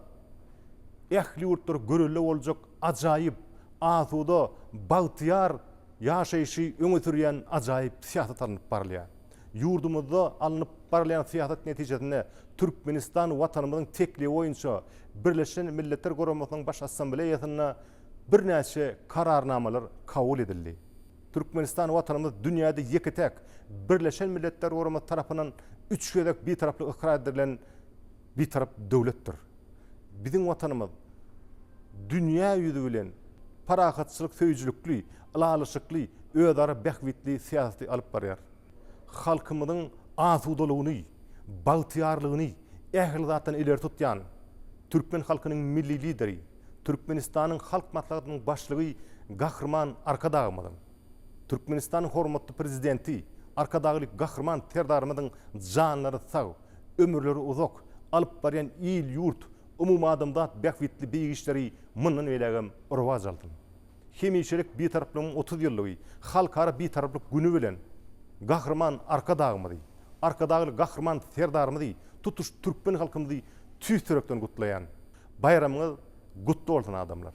ähli ýurtlar görelde boljak Ajaýyp, asuda, bagtyýar ýaşaýşy öňe sürýän ajaýyp syýasat alnyp barylýar. Ýurdumyzda alnyp barylýan syýasat netijesinde Türkmenistan Watanymyzyň teklibi boýunça Birleşen Milletler Guramasynyň Baş Assambleýasynda birnäçe Kararnamalar kabul edildi. Türkmenistan Watanymyz dünýäde ýeke-täk Birleşen Milletler Guramasy tarapyndan üç gezek Bitaraplyk ykrar edilen Bitarap döwletdir biziň Watanymyz. Dünýä ýüzi bilen parahatçylyk söýüjilikli, ylalaşykly, özara bähbitli syýasaty alyp barýar. Halkymyzyň asudalygyny, bagtyýarlygyny ähli zatdan ileri tutýan türkmen halkynyň Milli Lideri, Türkmenistanyň Halk Maslahatynyň Başlygy Gahryman Arkadagymyzyň, Türkmenistanyň hormatly Prezidenti Arkadagly Gahryman Serdarymyzyň janlary sag, ömürleri uzak, alyp barýan il-ýurt, umumadamzat bähbitli beýik işleri mundan beýlägem rowaç alsyn! Hemişelik Bitaraplygyň otuz ýyllygy, Halkara Bitaraplyk güni bilen Gahryman Arkadagymyzy, Arkadagly Gahryman Serdarymyzy, tutuş türkmen halkymyzy tüýs ýürekden gutlaýan! Baýramyňyz gutly bolsun, adamlar!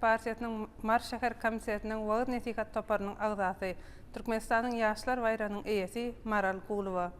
partiýasynyň Mary şäher komitetiniň wagyz-nesihat toparynyň agzasy, Türkmenistanyň Ýaşlar baýragynyň eýesi Maral Gulowa.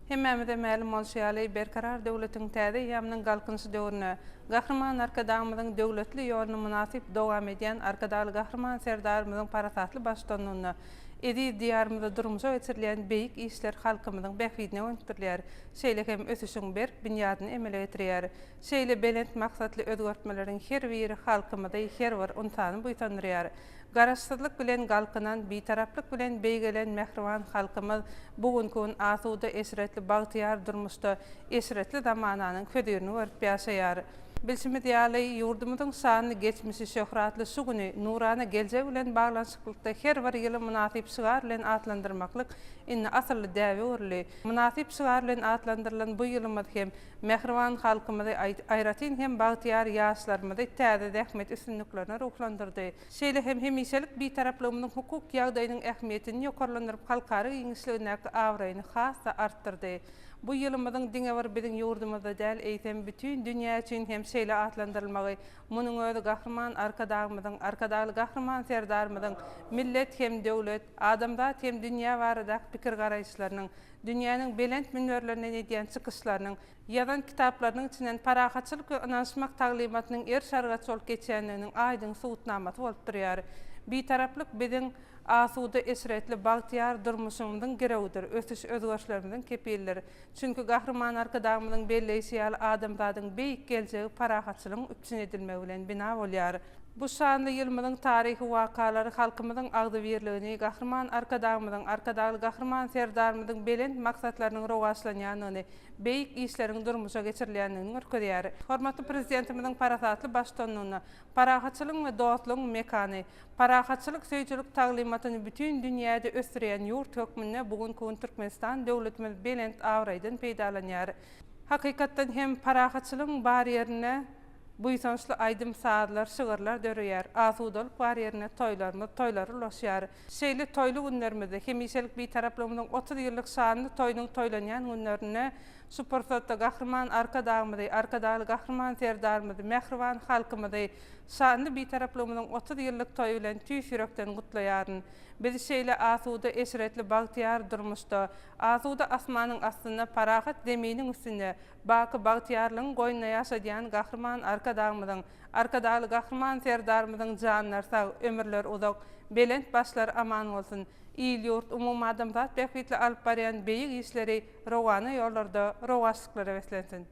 Hemmämize mälim bolşy ýaly, Berkarar döwletiň täze eýýamynyň Galkynyşy döwründe Gahryman Arkadagymyzyň döwletli ýoluny mynasyp dowam edýän Arkadagly Gahryman Serdarymyzyň parasatly baştutanlygynda eziz Diýarymyzda durmuşa geçirilýän beýik işler halkymyzyň bähbidine gönükdirilýär, şeýle hem ösüşiň berk binýadyny emele getirýär. Şeýle belent maksatly özgertmeleriň her biri halkymyzy, her bir ynsany buýsandyrýar. Garaşsyzlyk bilen galkynan, bitaraplyk bilen beýgelen mähriban halkymyz bu günki gün asuda, eşretli, bagtyýar durmuşda eşretli zamananyň hözirini görüp ýaşaýar. Bilşimiz ýaly, ýurdumyzyň şanly geçmişi, şöhratly şu güni, nurana geljegi bilen baglanyşyklykda her bir ýyly mynasyp şygar bilen atlandyrmaklyk indi asylly däbe öwrüldi. Mynasyp şygar bilen atlandyrylan bu ýylymyz hem Mähriban halkymyzy, aýratyn hem bagtyýar ýaşlarymyzy täze zähmet üstünliklerine ruhlandyrdy. Şeýle hem hemişelik Bitaraplygymyzyň hukuk ýagdaýynyň ähmiýetini ýokarlandyryp, halkara giňişligindäki abraýyny has-da artdyrdy. Bu ýylymyzyň diňe bir biziň ýurdumyzda däl, eýsem, bütin dünýä üçin hem şeýle atlandyrylmagy, munuň özi Gahryman Arkadagymyzyň, Arkadagly Gahryman Serdarymyzyň millet hem döwlet, adamzat hem dünýä baradaky pikir-garaýyşlarynyň, dünýäniň belent münberlerinden edýän çykyşlarynyň, ýazan kitaplarynyň içinden parahatçylyk we ynanyşmak taglymatynyň er-şargaç bolup geçýändiginiň aýdyň subutnamasy bolup durýar. Bitaraplyk biziň asuda, eşretli, bagtyýar durmuşymyzyň girewidir, ösüş-özgerişlerimiziň kepilidir. Çünki Gahryman Arkadagymyzyň belleýşi ýaly adamzadyň beýik geljegi parahatçylygyň üpjün edilmegi bilen bina bolýar. Bu şanly ýylymyzyň taryhy wakalary halkymyzyň agzybirligini, Gahryman Arkadagymyzyň, Arkadagly Gahryman Serdarymyzyň belent maksatlarynyň rowaçlanýandygyny, beýik işleriň durmuşa geçirilýändigini görkezýär. Hormatly Prezidentimiziň parasatly baştutanlygynda Parahatçylygyň we dostlugyň mekany, parahatçylyk söýüjilik taglymatyny bütin dünýäde ösdürýän ýurt hökmünde bu günki gün Türkmenistan döwletimiz belent abraýdan peýdalanýar. Hakykatdan hem, parahatçylygyň bar ýerinde, Buýsançly aýdym-sazlar, şygyrlar döreýär. Asudalyk bar ýerinde toýlarymyz, toýlara ulaşýar. Şeýle toýly günlerimizde, hemişelik Bitaraplygymyzyň otuz ýyllyk şanly toýunyň toýlanýan günlerinde şu pursatda Gahryman Arkadagymyzy, Arkadagly Gahryman Serdarymyzy, mähriban halkymyzy şanly Bitaraplygymyzyň otuz ýyllyk toýy bilen tüýs ýürekden gutlaýaryn. Biz şeýle asuda, eşretli, bagtyýar durmuşda, asuda asmanyň astynda, parahat Zeminiň üstünde, Baky bagtyýarlygyň goýnunda ýaşadýan Gahryman Arkadagymyzyň, Arkadagly Gahryman Serdarymyzyň janlary sag, ömürleri uzak, belent başlary aman bolsun! Il-ýurt, umumadamzat bähbitli alyp barýan beýik işleri rowana ýollarda rowaçlyklara beslensin!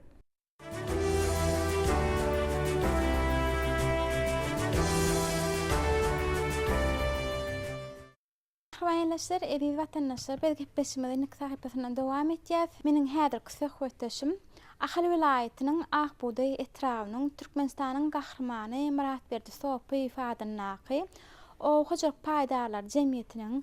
Rowandaşlar, eziz watandaşlar biz gepleşigimize nik sahypasyndan dowam etýäs. Meniň häzirki söhbetdeşim Ahal welaýatynyň Ak bugdaý etrabynyň Türkmenistanyň Gahrymany Myratberdi Sopyýew adyndaky Oba hojalyk paýdarlary jemgyýetiniň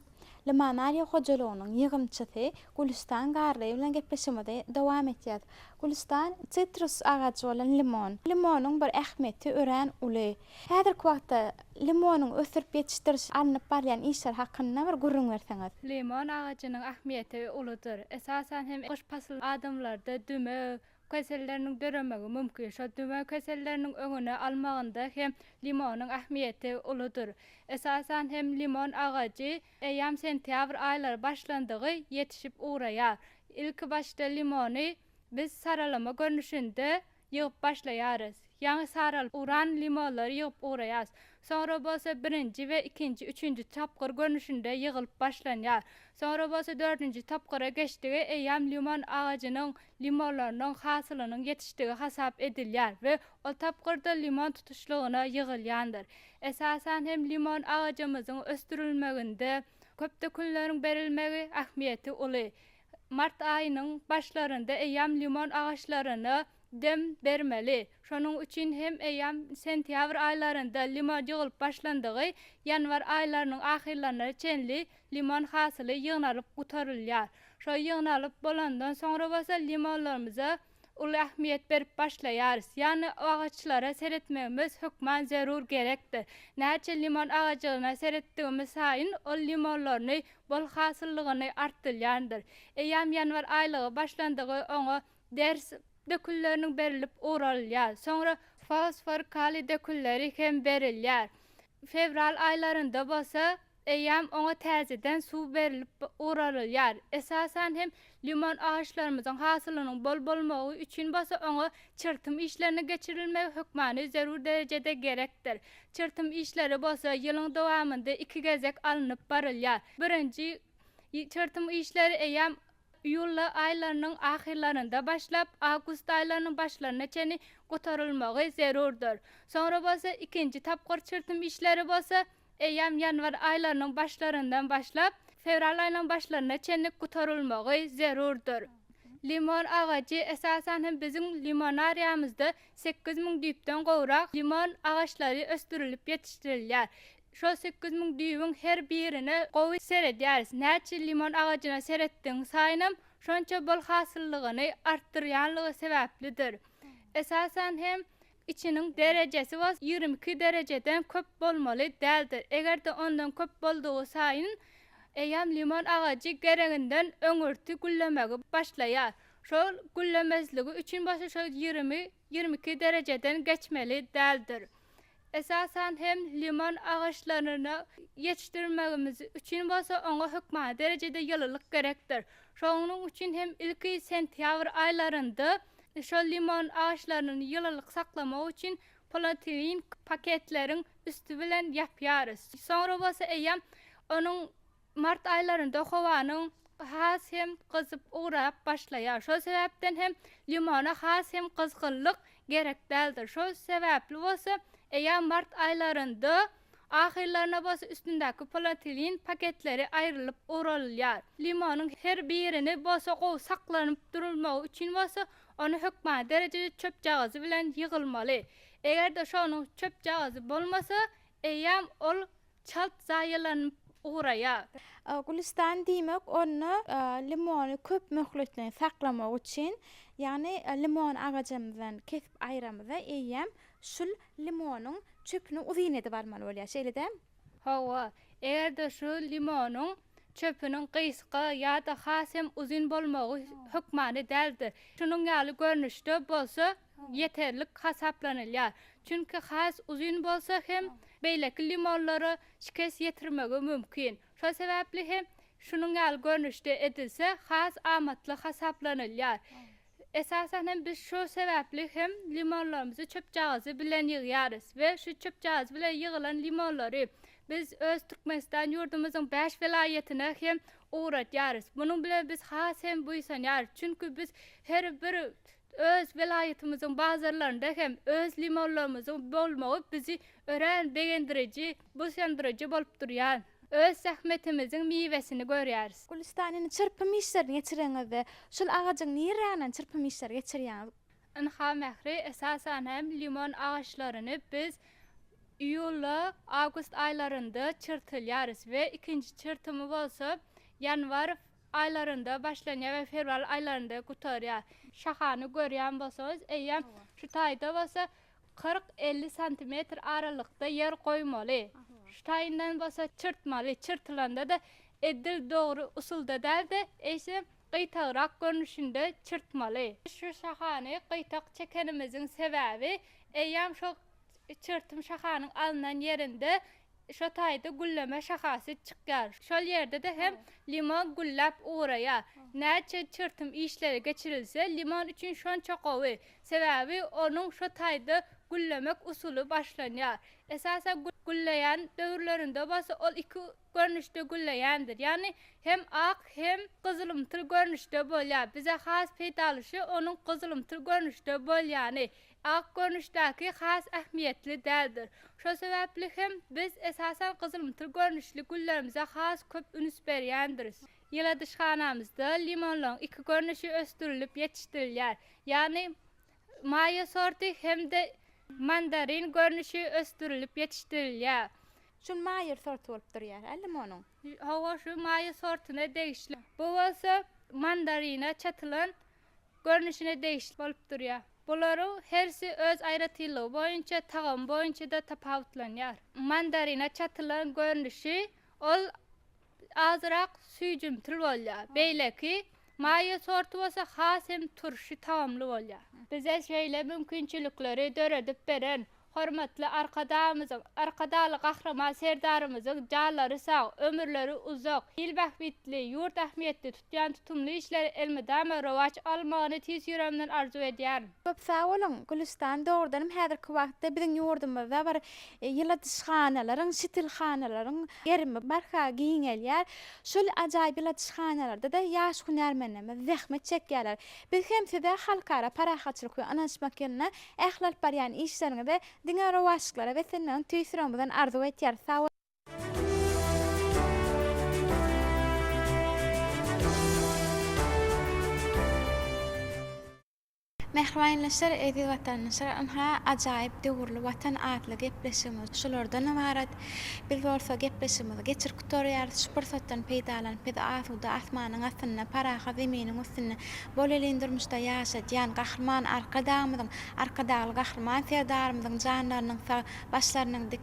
Limonariýa hojalygynyň ýygymçysy Gülüstan Garlyýewa bilen gepleşigimizi dowam etýäs. Gülüstan, sitrus agajy bolan limon. Limonyň bir ähmiýeti örän uly. Häzirki wagtda limonyň ösdürip ýetişdirişi alnyp barylýan işler hakynda bir gürrüň berseňiz. Limon agajynyň ähmiýeti uludyr. Esasan hem gyş pasylynda adamlarda dümew keselleriniň döremegi mümkin. Şol dümew keselleriniň öňüni almagynda hem limonyň ähmiýeti uludyr. Esasan hem limon agajy eýýäm sentýabr aýlary başlandygy ýetişip ugraýar. Ilki başda limony biz saralama görnüşinde Ýygyp başlaýarys. Ýaňy saralyp uran limonlary ýygyp ugraýarys. Soňra bolsa birinji we ikinji, üçünji tapgyr görnüşinde ýygylyp başlanýar. Soňra bolsa dördünji tapgyra geçdigi eýýäm limon agajynyň limonlarynyň hasylynyň ýetişdigi hasap edilýär we ol tapgyrda limon tutuşlygyna ýygylýandyr. Esasan hem limon agajymyzyň ösdürilmeginde köp dökünleriň berilmegi ähmiýeti uly. Mart aýynyň başlarynda eýýäm limon agaçlaryna dem bermeli. Şonuň üçin hem eýýäm sentýabr aýlarynda limon ýygylyp başlandygy, ýanwar aýlarynyň ahyrlaryna çenli limon hasyly ýygnalyp gutarylýar. Şol ýygnalyp bolandan soňra bolsa limonlarymyza uly ähmiýet berip başlaýarys. Ýagny agaçlara seretmegimiz hökman zerur gerekdir. Näçe limon agajygyna seretdigimiz saýyn ol limonlaryny bol hasyllygyny artdylýandyr. Eýýäm ýanwar aýlygy başlandygy oňa ders dökünleriniň berilip ugralylýar. Soňra fosfor, kaliý dökünleri hem berilýär. Fewral aýlarynda bolsa Eýýäm oňa täzeden suw berlip guralylýar. Esasan hem limon agaçlarymyzyň hasylynyň bol bolmagy üçin bolsa oňa çyrtym işleriniň geçirilmegi hökmany zerur derejede gerekdir. Çyrtym işleri bolsa ýylyň dowamynda iki gezek alnyp barylýar. Birinji çyrtym işleri eýýäm iýul aýlarynyň ahyrlarynda başlap, awgust aýlarynyň başlaryna çenli gutarylmagy zerurdyr. Soňra bolsa ikinji tapgyr çürtüm işleri bolsa eýýäm ýanwar aýlarynyň başlaryndan başlap, fewral aýynyň başlaryna çenli gutarylmagy zerurdyr. Limon agajy, esasan hem biziň limonariýamyzda sekiz müň düýpden gowrak limon agaçlary ösdürilip ýetişdirilýär. Şol sekiz müň düýbüň her birine gowy seredýäris. Näçe limon agajyna seretdigiň saýynam, şonça bol hasyllygyny artdyrýanlygy sebäplidir. Esasan hem, içiniň derejesi bolsa ýigrimi iki derejeden köp bolmaly däldir. Eger-de ondan köp boldugy saýyn, eýýäm limon agajy gereginden öňürti güllemegi başlaýar. Şol güllemezligi üçin bolsa şol ýigrimi ýigrimi iki derejeden geçmeli däldir. Esasan hem limon agaçlaryny ýetişdirmegimiz üçin bolsa oňa hökmany derejede ýylylyk gerekdir. Şonuň üçin hem ilki sentýabr aýlarynda şol limon agaçlaryny ýylylyk saklamak üçin polietilin paketleriň üsti bilen ýapýarys. Soňra bolsa eýýäm onuň Mart aýlarynda howanyň has hem gyzyp ugrap başlaýar. Şol sebäpden hem limona has hem gyzgynlyk gerek däldir. Şol sebäpli bolsa eýýäm mart aýlarynda ahyrlaryna bolsa üstündäki polotilin paketleri aýrylyp ugralylýar. Limonyň her birini bolsa gowy saklanyp durulmagy üçin bolsa ony hökmany derejede çöpjagazy bilen ýygylmaly. Eger-de şonuň çöpjagazy bolmasa eýýäm ol Çalt zaýalanyp ugraýar. Gülüstan diýmek onda limony köp möhletleýin saklamak üçin, ýagny limon agajymyzdan kesip aýramyzda eýýäm şul limonyň çöpüni uzyn edip almaly bolýar. Şeýle däl? Hawa. Eger-de şu limonyň çöpüniň gysga ýa-da has hem uzyn bolmagy hökmany däldir. Şunuň ýaly görnüşde bolsa ýeterlik hasaplanylýar, çünki has uzyn bolsa hem beýleki limonlara şikes ýetirmegi mümkin. Şol sebäpli hem şunuň ýaly görnüşde edilse has amatly hasaplanylýar. Esasan hem biz şu sebäpli hem limonlarymyzy çöpjagazy bilen ýygýarys we şu çöpjagazy bilen ýygylan limonlary biz öz Türkmenistan ýurdumyzyň bäş welaýatyna hem ugradýarys. Munuň bilen biz has hem buýsanýarys, çünki biz her bir Öz welaýatymyzyň bazarlarynda hem öz limonlarymyzyň bolmagy bizi örän begendiriji, buýsandyryjy bolup durýar. Öz zähmetimiziň miwesini görýäris. Gülüstan indi çyrpym işlerini geçireňizde, şol agajyň nirräniň çyrpym işleri geçirýäňiz? Ynha Mähri, esasan hem limon agaçlaryny biz iýulda, awgust aýlarynda çyrtylýarys we ikinji çyrtymy bolsa ýanwar, Aýlarynda başlanýar we fewral aýlarynda gutarýar. Şahany görýän bolsaňyz, eýýäm şu taýda bolsa kyrk-elli santimetr aralykda ýer goýmaly. Şu taýyndan bolsa çyrtmaly. Çyrtylanda-da edil dogry usulda däl-de, eýsem, gyýtagrak görnüşinde çyrtmaly. Şu şahany gyýtak çekenimiziň sebäbi eýýäm şo Çyrtym şahanyň alnan ýerinde şo taýda gülleme şahasy çykýar. Şol ýerde-de hem limon gülläp ugraýar. Näçe çyrtym işleri geçirilse, limon üçin şonça gowy. Sebäbi onuň şo taýda güllemek usuly başlanýar. Esasan gülleýän döwürlerinde bolsa ol iki görnüşde gülleýändir. Ýagny hem ak, hem gyzylymtyl görnüşde bolýar. Bize has peýdaly şu onuň gyzylymtyl görnüşde bolýany. Ak görnüşdäki has ähmiýetli däldir. Şo sebäpli hem biz esasan gyzylymtyl görnüşli güllerimize has köp üns berýändiris. Ýyladyşhanamyzda limonlaryň iki görnüşi ösdürilip ýetişdirilýär. Ýagny Maýo sorty hem-de Mandarin görnüşi ösdürilip ýetişdirilýär. Şul Maýer sorty bolup durýar-a limonyň. Hawa şu Maýer sortuna degişli. Bu bolsa mandarine çatylan görnüşine degişli bolup durýar. Bularyň hersi öz aýratynlygy boýunça tagamy boýunça-da tapawutlanýar. Mandarine çatylan görnüşi ol azyrak süýjümtil bolýar. Beýleki maýa sorty bolsa has hem turşy tagamly bolýar. Bize şeýle mümkinçilikleri döredip beren hormatly Arkadagymyzyň, Arkadagly Gahryman Serdarymyzyň janlary sag, ömürleri uzak, il bähbitli, ýurt ähmiýetli, Jantutumly işler elmydama rowaç almagyny tiz ýüregimden arzuw edýän. Köp sag boluň, Gülüstan! Dogrudanam häzirki wagtda biziň ýurdumyzda bir ýyladyşhanalaryň, şitilhanalaryň gerimi barha giňelýär. Şol ajaýyp ýyladyşhanalarda-da ýaş hünärmenlerimiz zähmet çekýärler. Biz hem size halkara parahatçylyk we ynanyşmak ýylynda ähli alyp barýan işleriňize diňe rowaçlyklara beslenmegiňi tüýs ýüregimizden arzuw etýäris. Sag boluň! Mähribaýndaşlar, eziz watandaşlar! Ynha, ajaýyp döwürli Watan atly gepleşigimiz şulardan ybarat. Biz bolsa gepleşigimizi geçirip gutarýarys. Şu pursatdan peýdalanyp, bizi asuda asmanyň astynda, parahat zeminiň üstünde, bolelin durmuşda ýaşadýan Gahryman Arkadagymyzyň, Arkadagly Gahryman Serdarymyzyň janlarynyň sag, başlarynyň dik,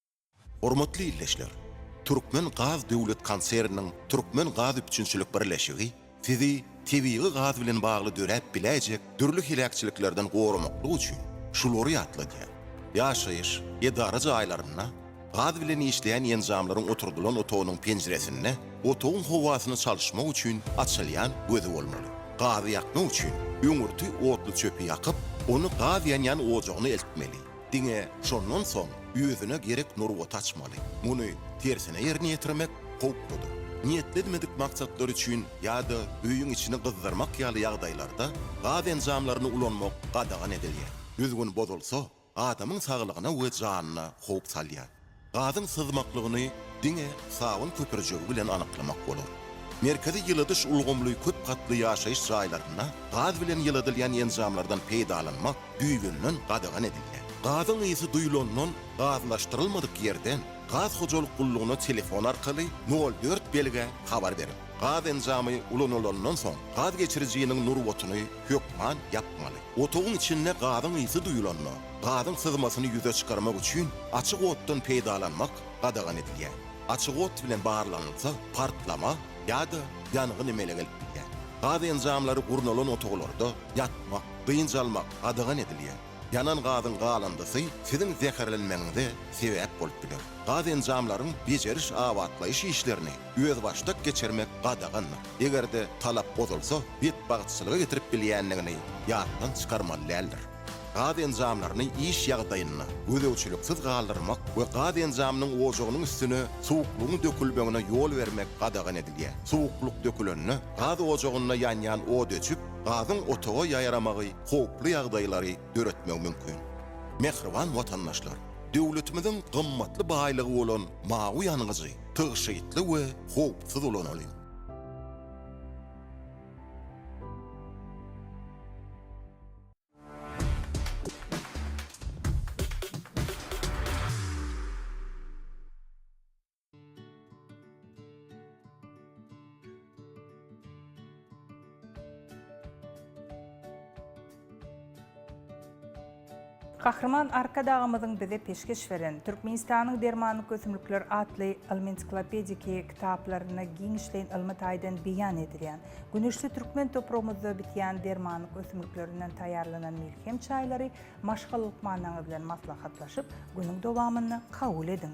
Hormatly ildeşler! Türkmen gaz döwlet konserniniň Türkmen gaz üpjünçilik birleşigi Sizi tebigy gaz bilen bagly döräp biläýjek dürli heläkçiliklerden goramaklyk üçin şulary ýatladýar, Ýaşaýyş, edara jaýlarynda, gaz bilen işleýän enjamlaryň oturdylan otagynyň penjiresinde otagyň howasyny çalyşmak üçin açylýan gözi bolmaly. Gazy ýakmak üçin öňürti otly çöpi ýakyp, ony gaz ýanýan ojagyna eltmeli. Diňe şondan soň özüne gerek nurbaty açmaly. Muny tersine ýerine ýetirmek howpludyr. Niýetlenmedik maksatlar üçin ýa-da öýüň içini gyzdyrmak ýaly ýagdaýlarda gaz enjamlaryny ulanmak gadagan edilýär. Düzgün bozulsa, adamyň saglygyna we janyna howp salýar. Gazyň syzmaklygyny diňe Sawyn köpürjigi bilen anyklamak bolar. Merkezi ýyladyş ulgamly köp gatly ýaşaýyş jaýlarynda gaz bilen ýyladylýan enjamlardan peýdalanmak düýbünden gadagan edilýär. Gazyň ysy duýlandan gazlaşdyrylmadyk ýerden gaz hojalyk gullugyna telefon arkaly nol dört belgä habar beriň. Gaz enjamy ulanylandan soň, gaz geçirijiniň nurbatyny hökman ýapmaly. Otagyň içinde gazyň ysy duýulanda, gazyň syzmasyny ýüze çykarmak üçin açyk otdan peýdalanmak gadagan edilýär. Açyk ot bilen barlanylsa, partlama ýa-da ýangyn emele gelip bilýär. Gaz enjamlary gurnalan otaglarda ýatmak, dynç almak gadagan edilýär. Ýanan gazyň galyndysy siziň zäherlenmegiňize sebäp bolup biler. Gaz enjamlaryň bejeriş-abatlaýyş işlerini özbaşdak geçirmek gadagandyr. Eger-de talap bozulsa, betbagtçylyga getirip bilýändigini ýatdan çykarmaly däldir. Gaz enjamlaryny iş ýagdaýynda gözegçiliksiz galdyrmak we gaz enjamynyň ojagynyň üstüne suwuklygyň dökülmegine ýol bermek gadagan edilýär. Suwuklyk dökülende, gaz ojagynda ýanýan od öçüp, gazyň otaga ýaýramagy howply ýagdaýlary döretmegi mümkin. Mähriban watandaşlar! Döwletimiziň gymmatly baýlygy bolan mawy ýangyjy tygşytly we howpsuz ulanalyň! Gahryman Arkadagymyzyň bize peşgeş beren Türkmenistanyň dermanlyk ösümlikler atly ylmy-ensiklopediki kitaplarynda giňişleýin ylmy taýdan beýan edilýän, güneşli türkmen topragymyzda bitýän dermanlyk ösümliklerinden taýýarlanan melhem çaýlary maşgala lukmanlaryňyz bilen maslahatlaşyp, günüň dowamynda kabul ediň.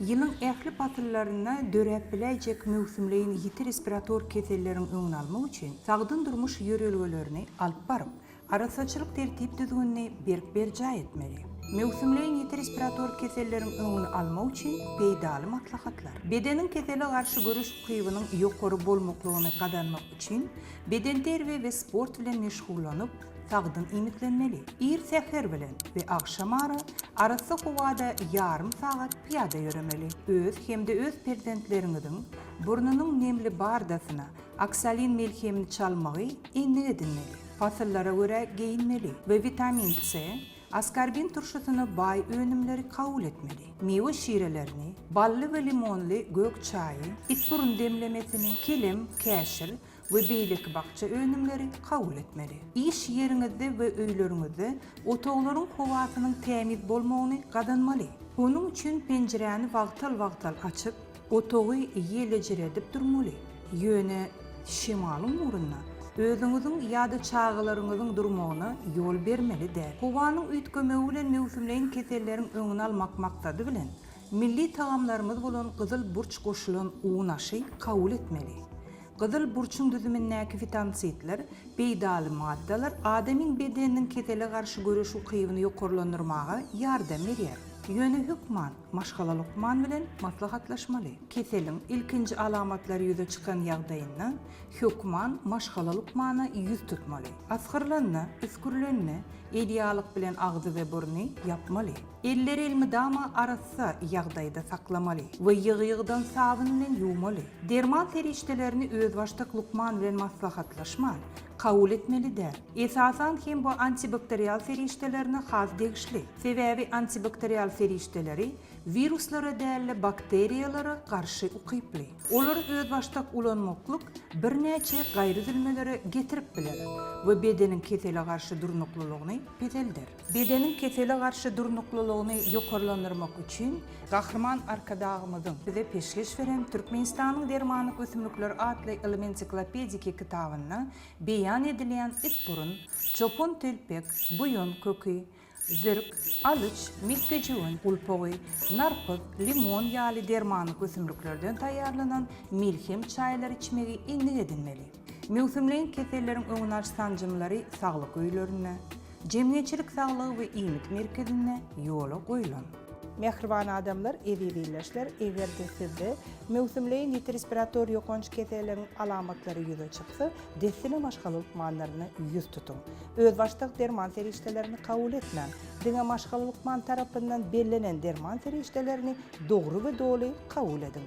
Ýylyň ähli pasyllarynda döräp biläýjek möwsümleýin ýiti respirator keselleriň öňüni almak üçin sagdyn durmuş ýörelgelerini alyp baryp, arassaçylyk tertip-düzgünini berk berjaý etmeli. Möwsümleýin ýiti respirator keselleriň öňüni almak üçin peýdaly maslahatlar. Bedeniň kesele garşy göreş ukybynyň ýokary bolmaklygyny gazanmak. üçin bedenterbiýe we sport bilen meşgullanyp, sagdyn iýmitlenmeli. Ir säher bilen we agşam ara arassa howada ýarym sagat pyýada ýöremeli. Öz hem-de öz perzentleriňiziň burnunyň nemli bardasyna oksolin melhemini çalmagy endik edinmeli. Pasyllara görä geýinmeli we witamin C, Askorbin turşusyna baý önümleri kabul etmeli. Miwe şirelerini, bally we limonly gök çaýy, itburun demlemesini, kelem, käşir we beýleki bakja önümleri kabul etmeli. Iş ýeriňizde we öýleriňizde otaglaryň howasynyň tämiz bolmagyny gazanmaly. Onuň üçin penjiräni wagtal-wagtal açyp, Otagy ýelejiredip durmaly, ýöne şemalyň ugrunda özüňiziň ýa-da çagalaryňyzyň durmagyna ýol bermeli däl. Howanyň üýtgemegi bilen möwsümleýin keselleriň öňüni almak maksady bilen, milli tagamlarymyz bolan gyzyl burç goşulan un aşy kabul etmeli. Gyzyl burçuň düzümindäki fitonsidler, peýdaly maddalar adamyň bedeniniň kesele garşy göreş ukybyny ýokarlandyrmaga ýardam berýär. Ýöne hökman Maşgala lukman bilen maslahatlaşmaly. Keseliň ilkinji alamatlary ýüze çykan ýagdaýynda hökman maşgala lukmana ýüz tutmaly. Asgyrylanda, üsgürilende edýalyk bilen agzy we burny ýapmaly. Elleri elmydama arassa ýagdaýda saklamaly we ýygy-ýygydan sabyn bilen ýuwmaly. Derman serişdelerini özbaşdak lukman bilen maslahatlaşman, Kabul etmeli däl. Esasan hem bu antibakterial serişdelerine has degişli. Sebäbi antibakterial serişdeleri wiruslara däl-de bakteriýalara garşy ukyply. Olary özbaşdak ulanmaklyk birnäçe gaýryüzülmelere getirip biler we bedeniň kesele garşy durnuklylygyny peselder. Bedeniň kesele garşy durnuklylygyny ýokarlandyrmak üçin, Gahryman Arkadagymyzyň bize peşgeş beren Türkmenistanyň dermanlyk ösümlikleri atly ylmy-ensiklopediki kitabynda beýan edilýän itburun, çopantelpek, buýan köki, zirk, alyç, mekgejöwen gulpagy, narpyz, limon ýaly dermanlyk ösümliklerden taýýarlanan melhem çaýlary içmegi endik edinmeli. Möwsümleýin keselleriň öňüni alyş sanjymlary saglyk öýlerinde, Jemgyýetçilik saglygy we iýmit merkezinde ýola goýlan. Mähriban adamlar, eziz ildeşler, eger-de sizde möwsümleýin ýiti respirator ýokanç keseliň alamatlary ýüze çyksa, dessine maşgala lukmanlaryna ýüz tutuň. Özbaşdak derman serişdelerini kabul etmäň. Diňe maşgala lukman tarapyndan bellenen derman serişdelerini dogry we doly kabul ediň.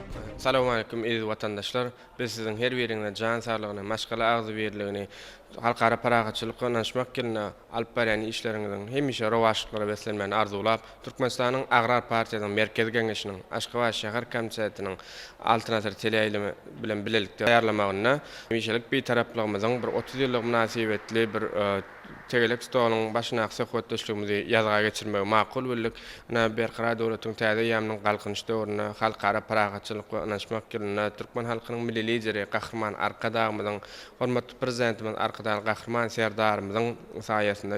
Salowmaleýkim eziz watandaşlar! Biz siziň her biriňize jan saglygyny, maşgala agzybirligini, halkara parahatçylyk ynanyşmak ýylynda alyp barýan işleriňiziň hemişe rowaçlyklara beslenmegini arzuwlap, Türkmenistanyň Agrar partiýasynyň Merkezi Geňeşiniň Aşgabat şäher komitetiniň Altyn asyr teleýaýlymy bilen bilelikde taýýarlamagynda hemişelik Bitaraplygymyzyň bir otuz ýyllygy mynasybetli bir Tegelek stoluň başyndaky söhbetdeşligimizi ýazga geçirmegi makul bildik. Ine, Berkarar döwletiň täze eýýamynyň Galkynyş döwründe Halkara parahatçylyk we ynanyşmak ýylynda türkmen halkynyň Milli Lideri Gahryman Arkadagymyzyň, hormatly Prezidentimiz Arkadagly Gahryman Serdarymyzyň saýasynda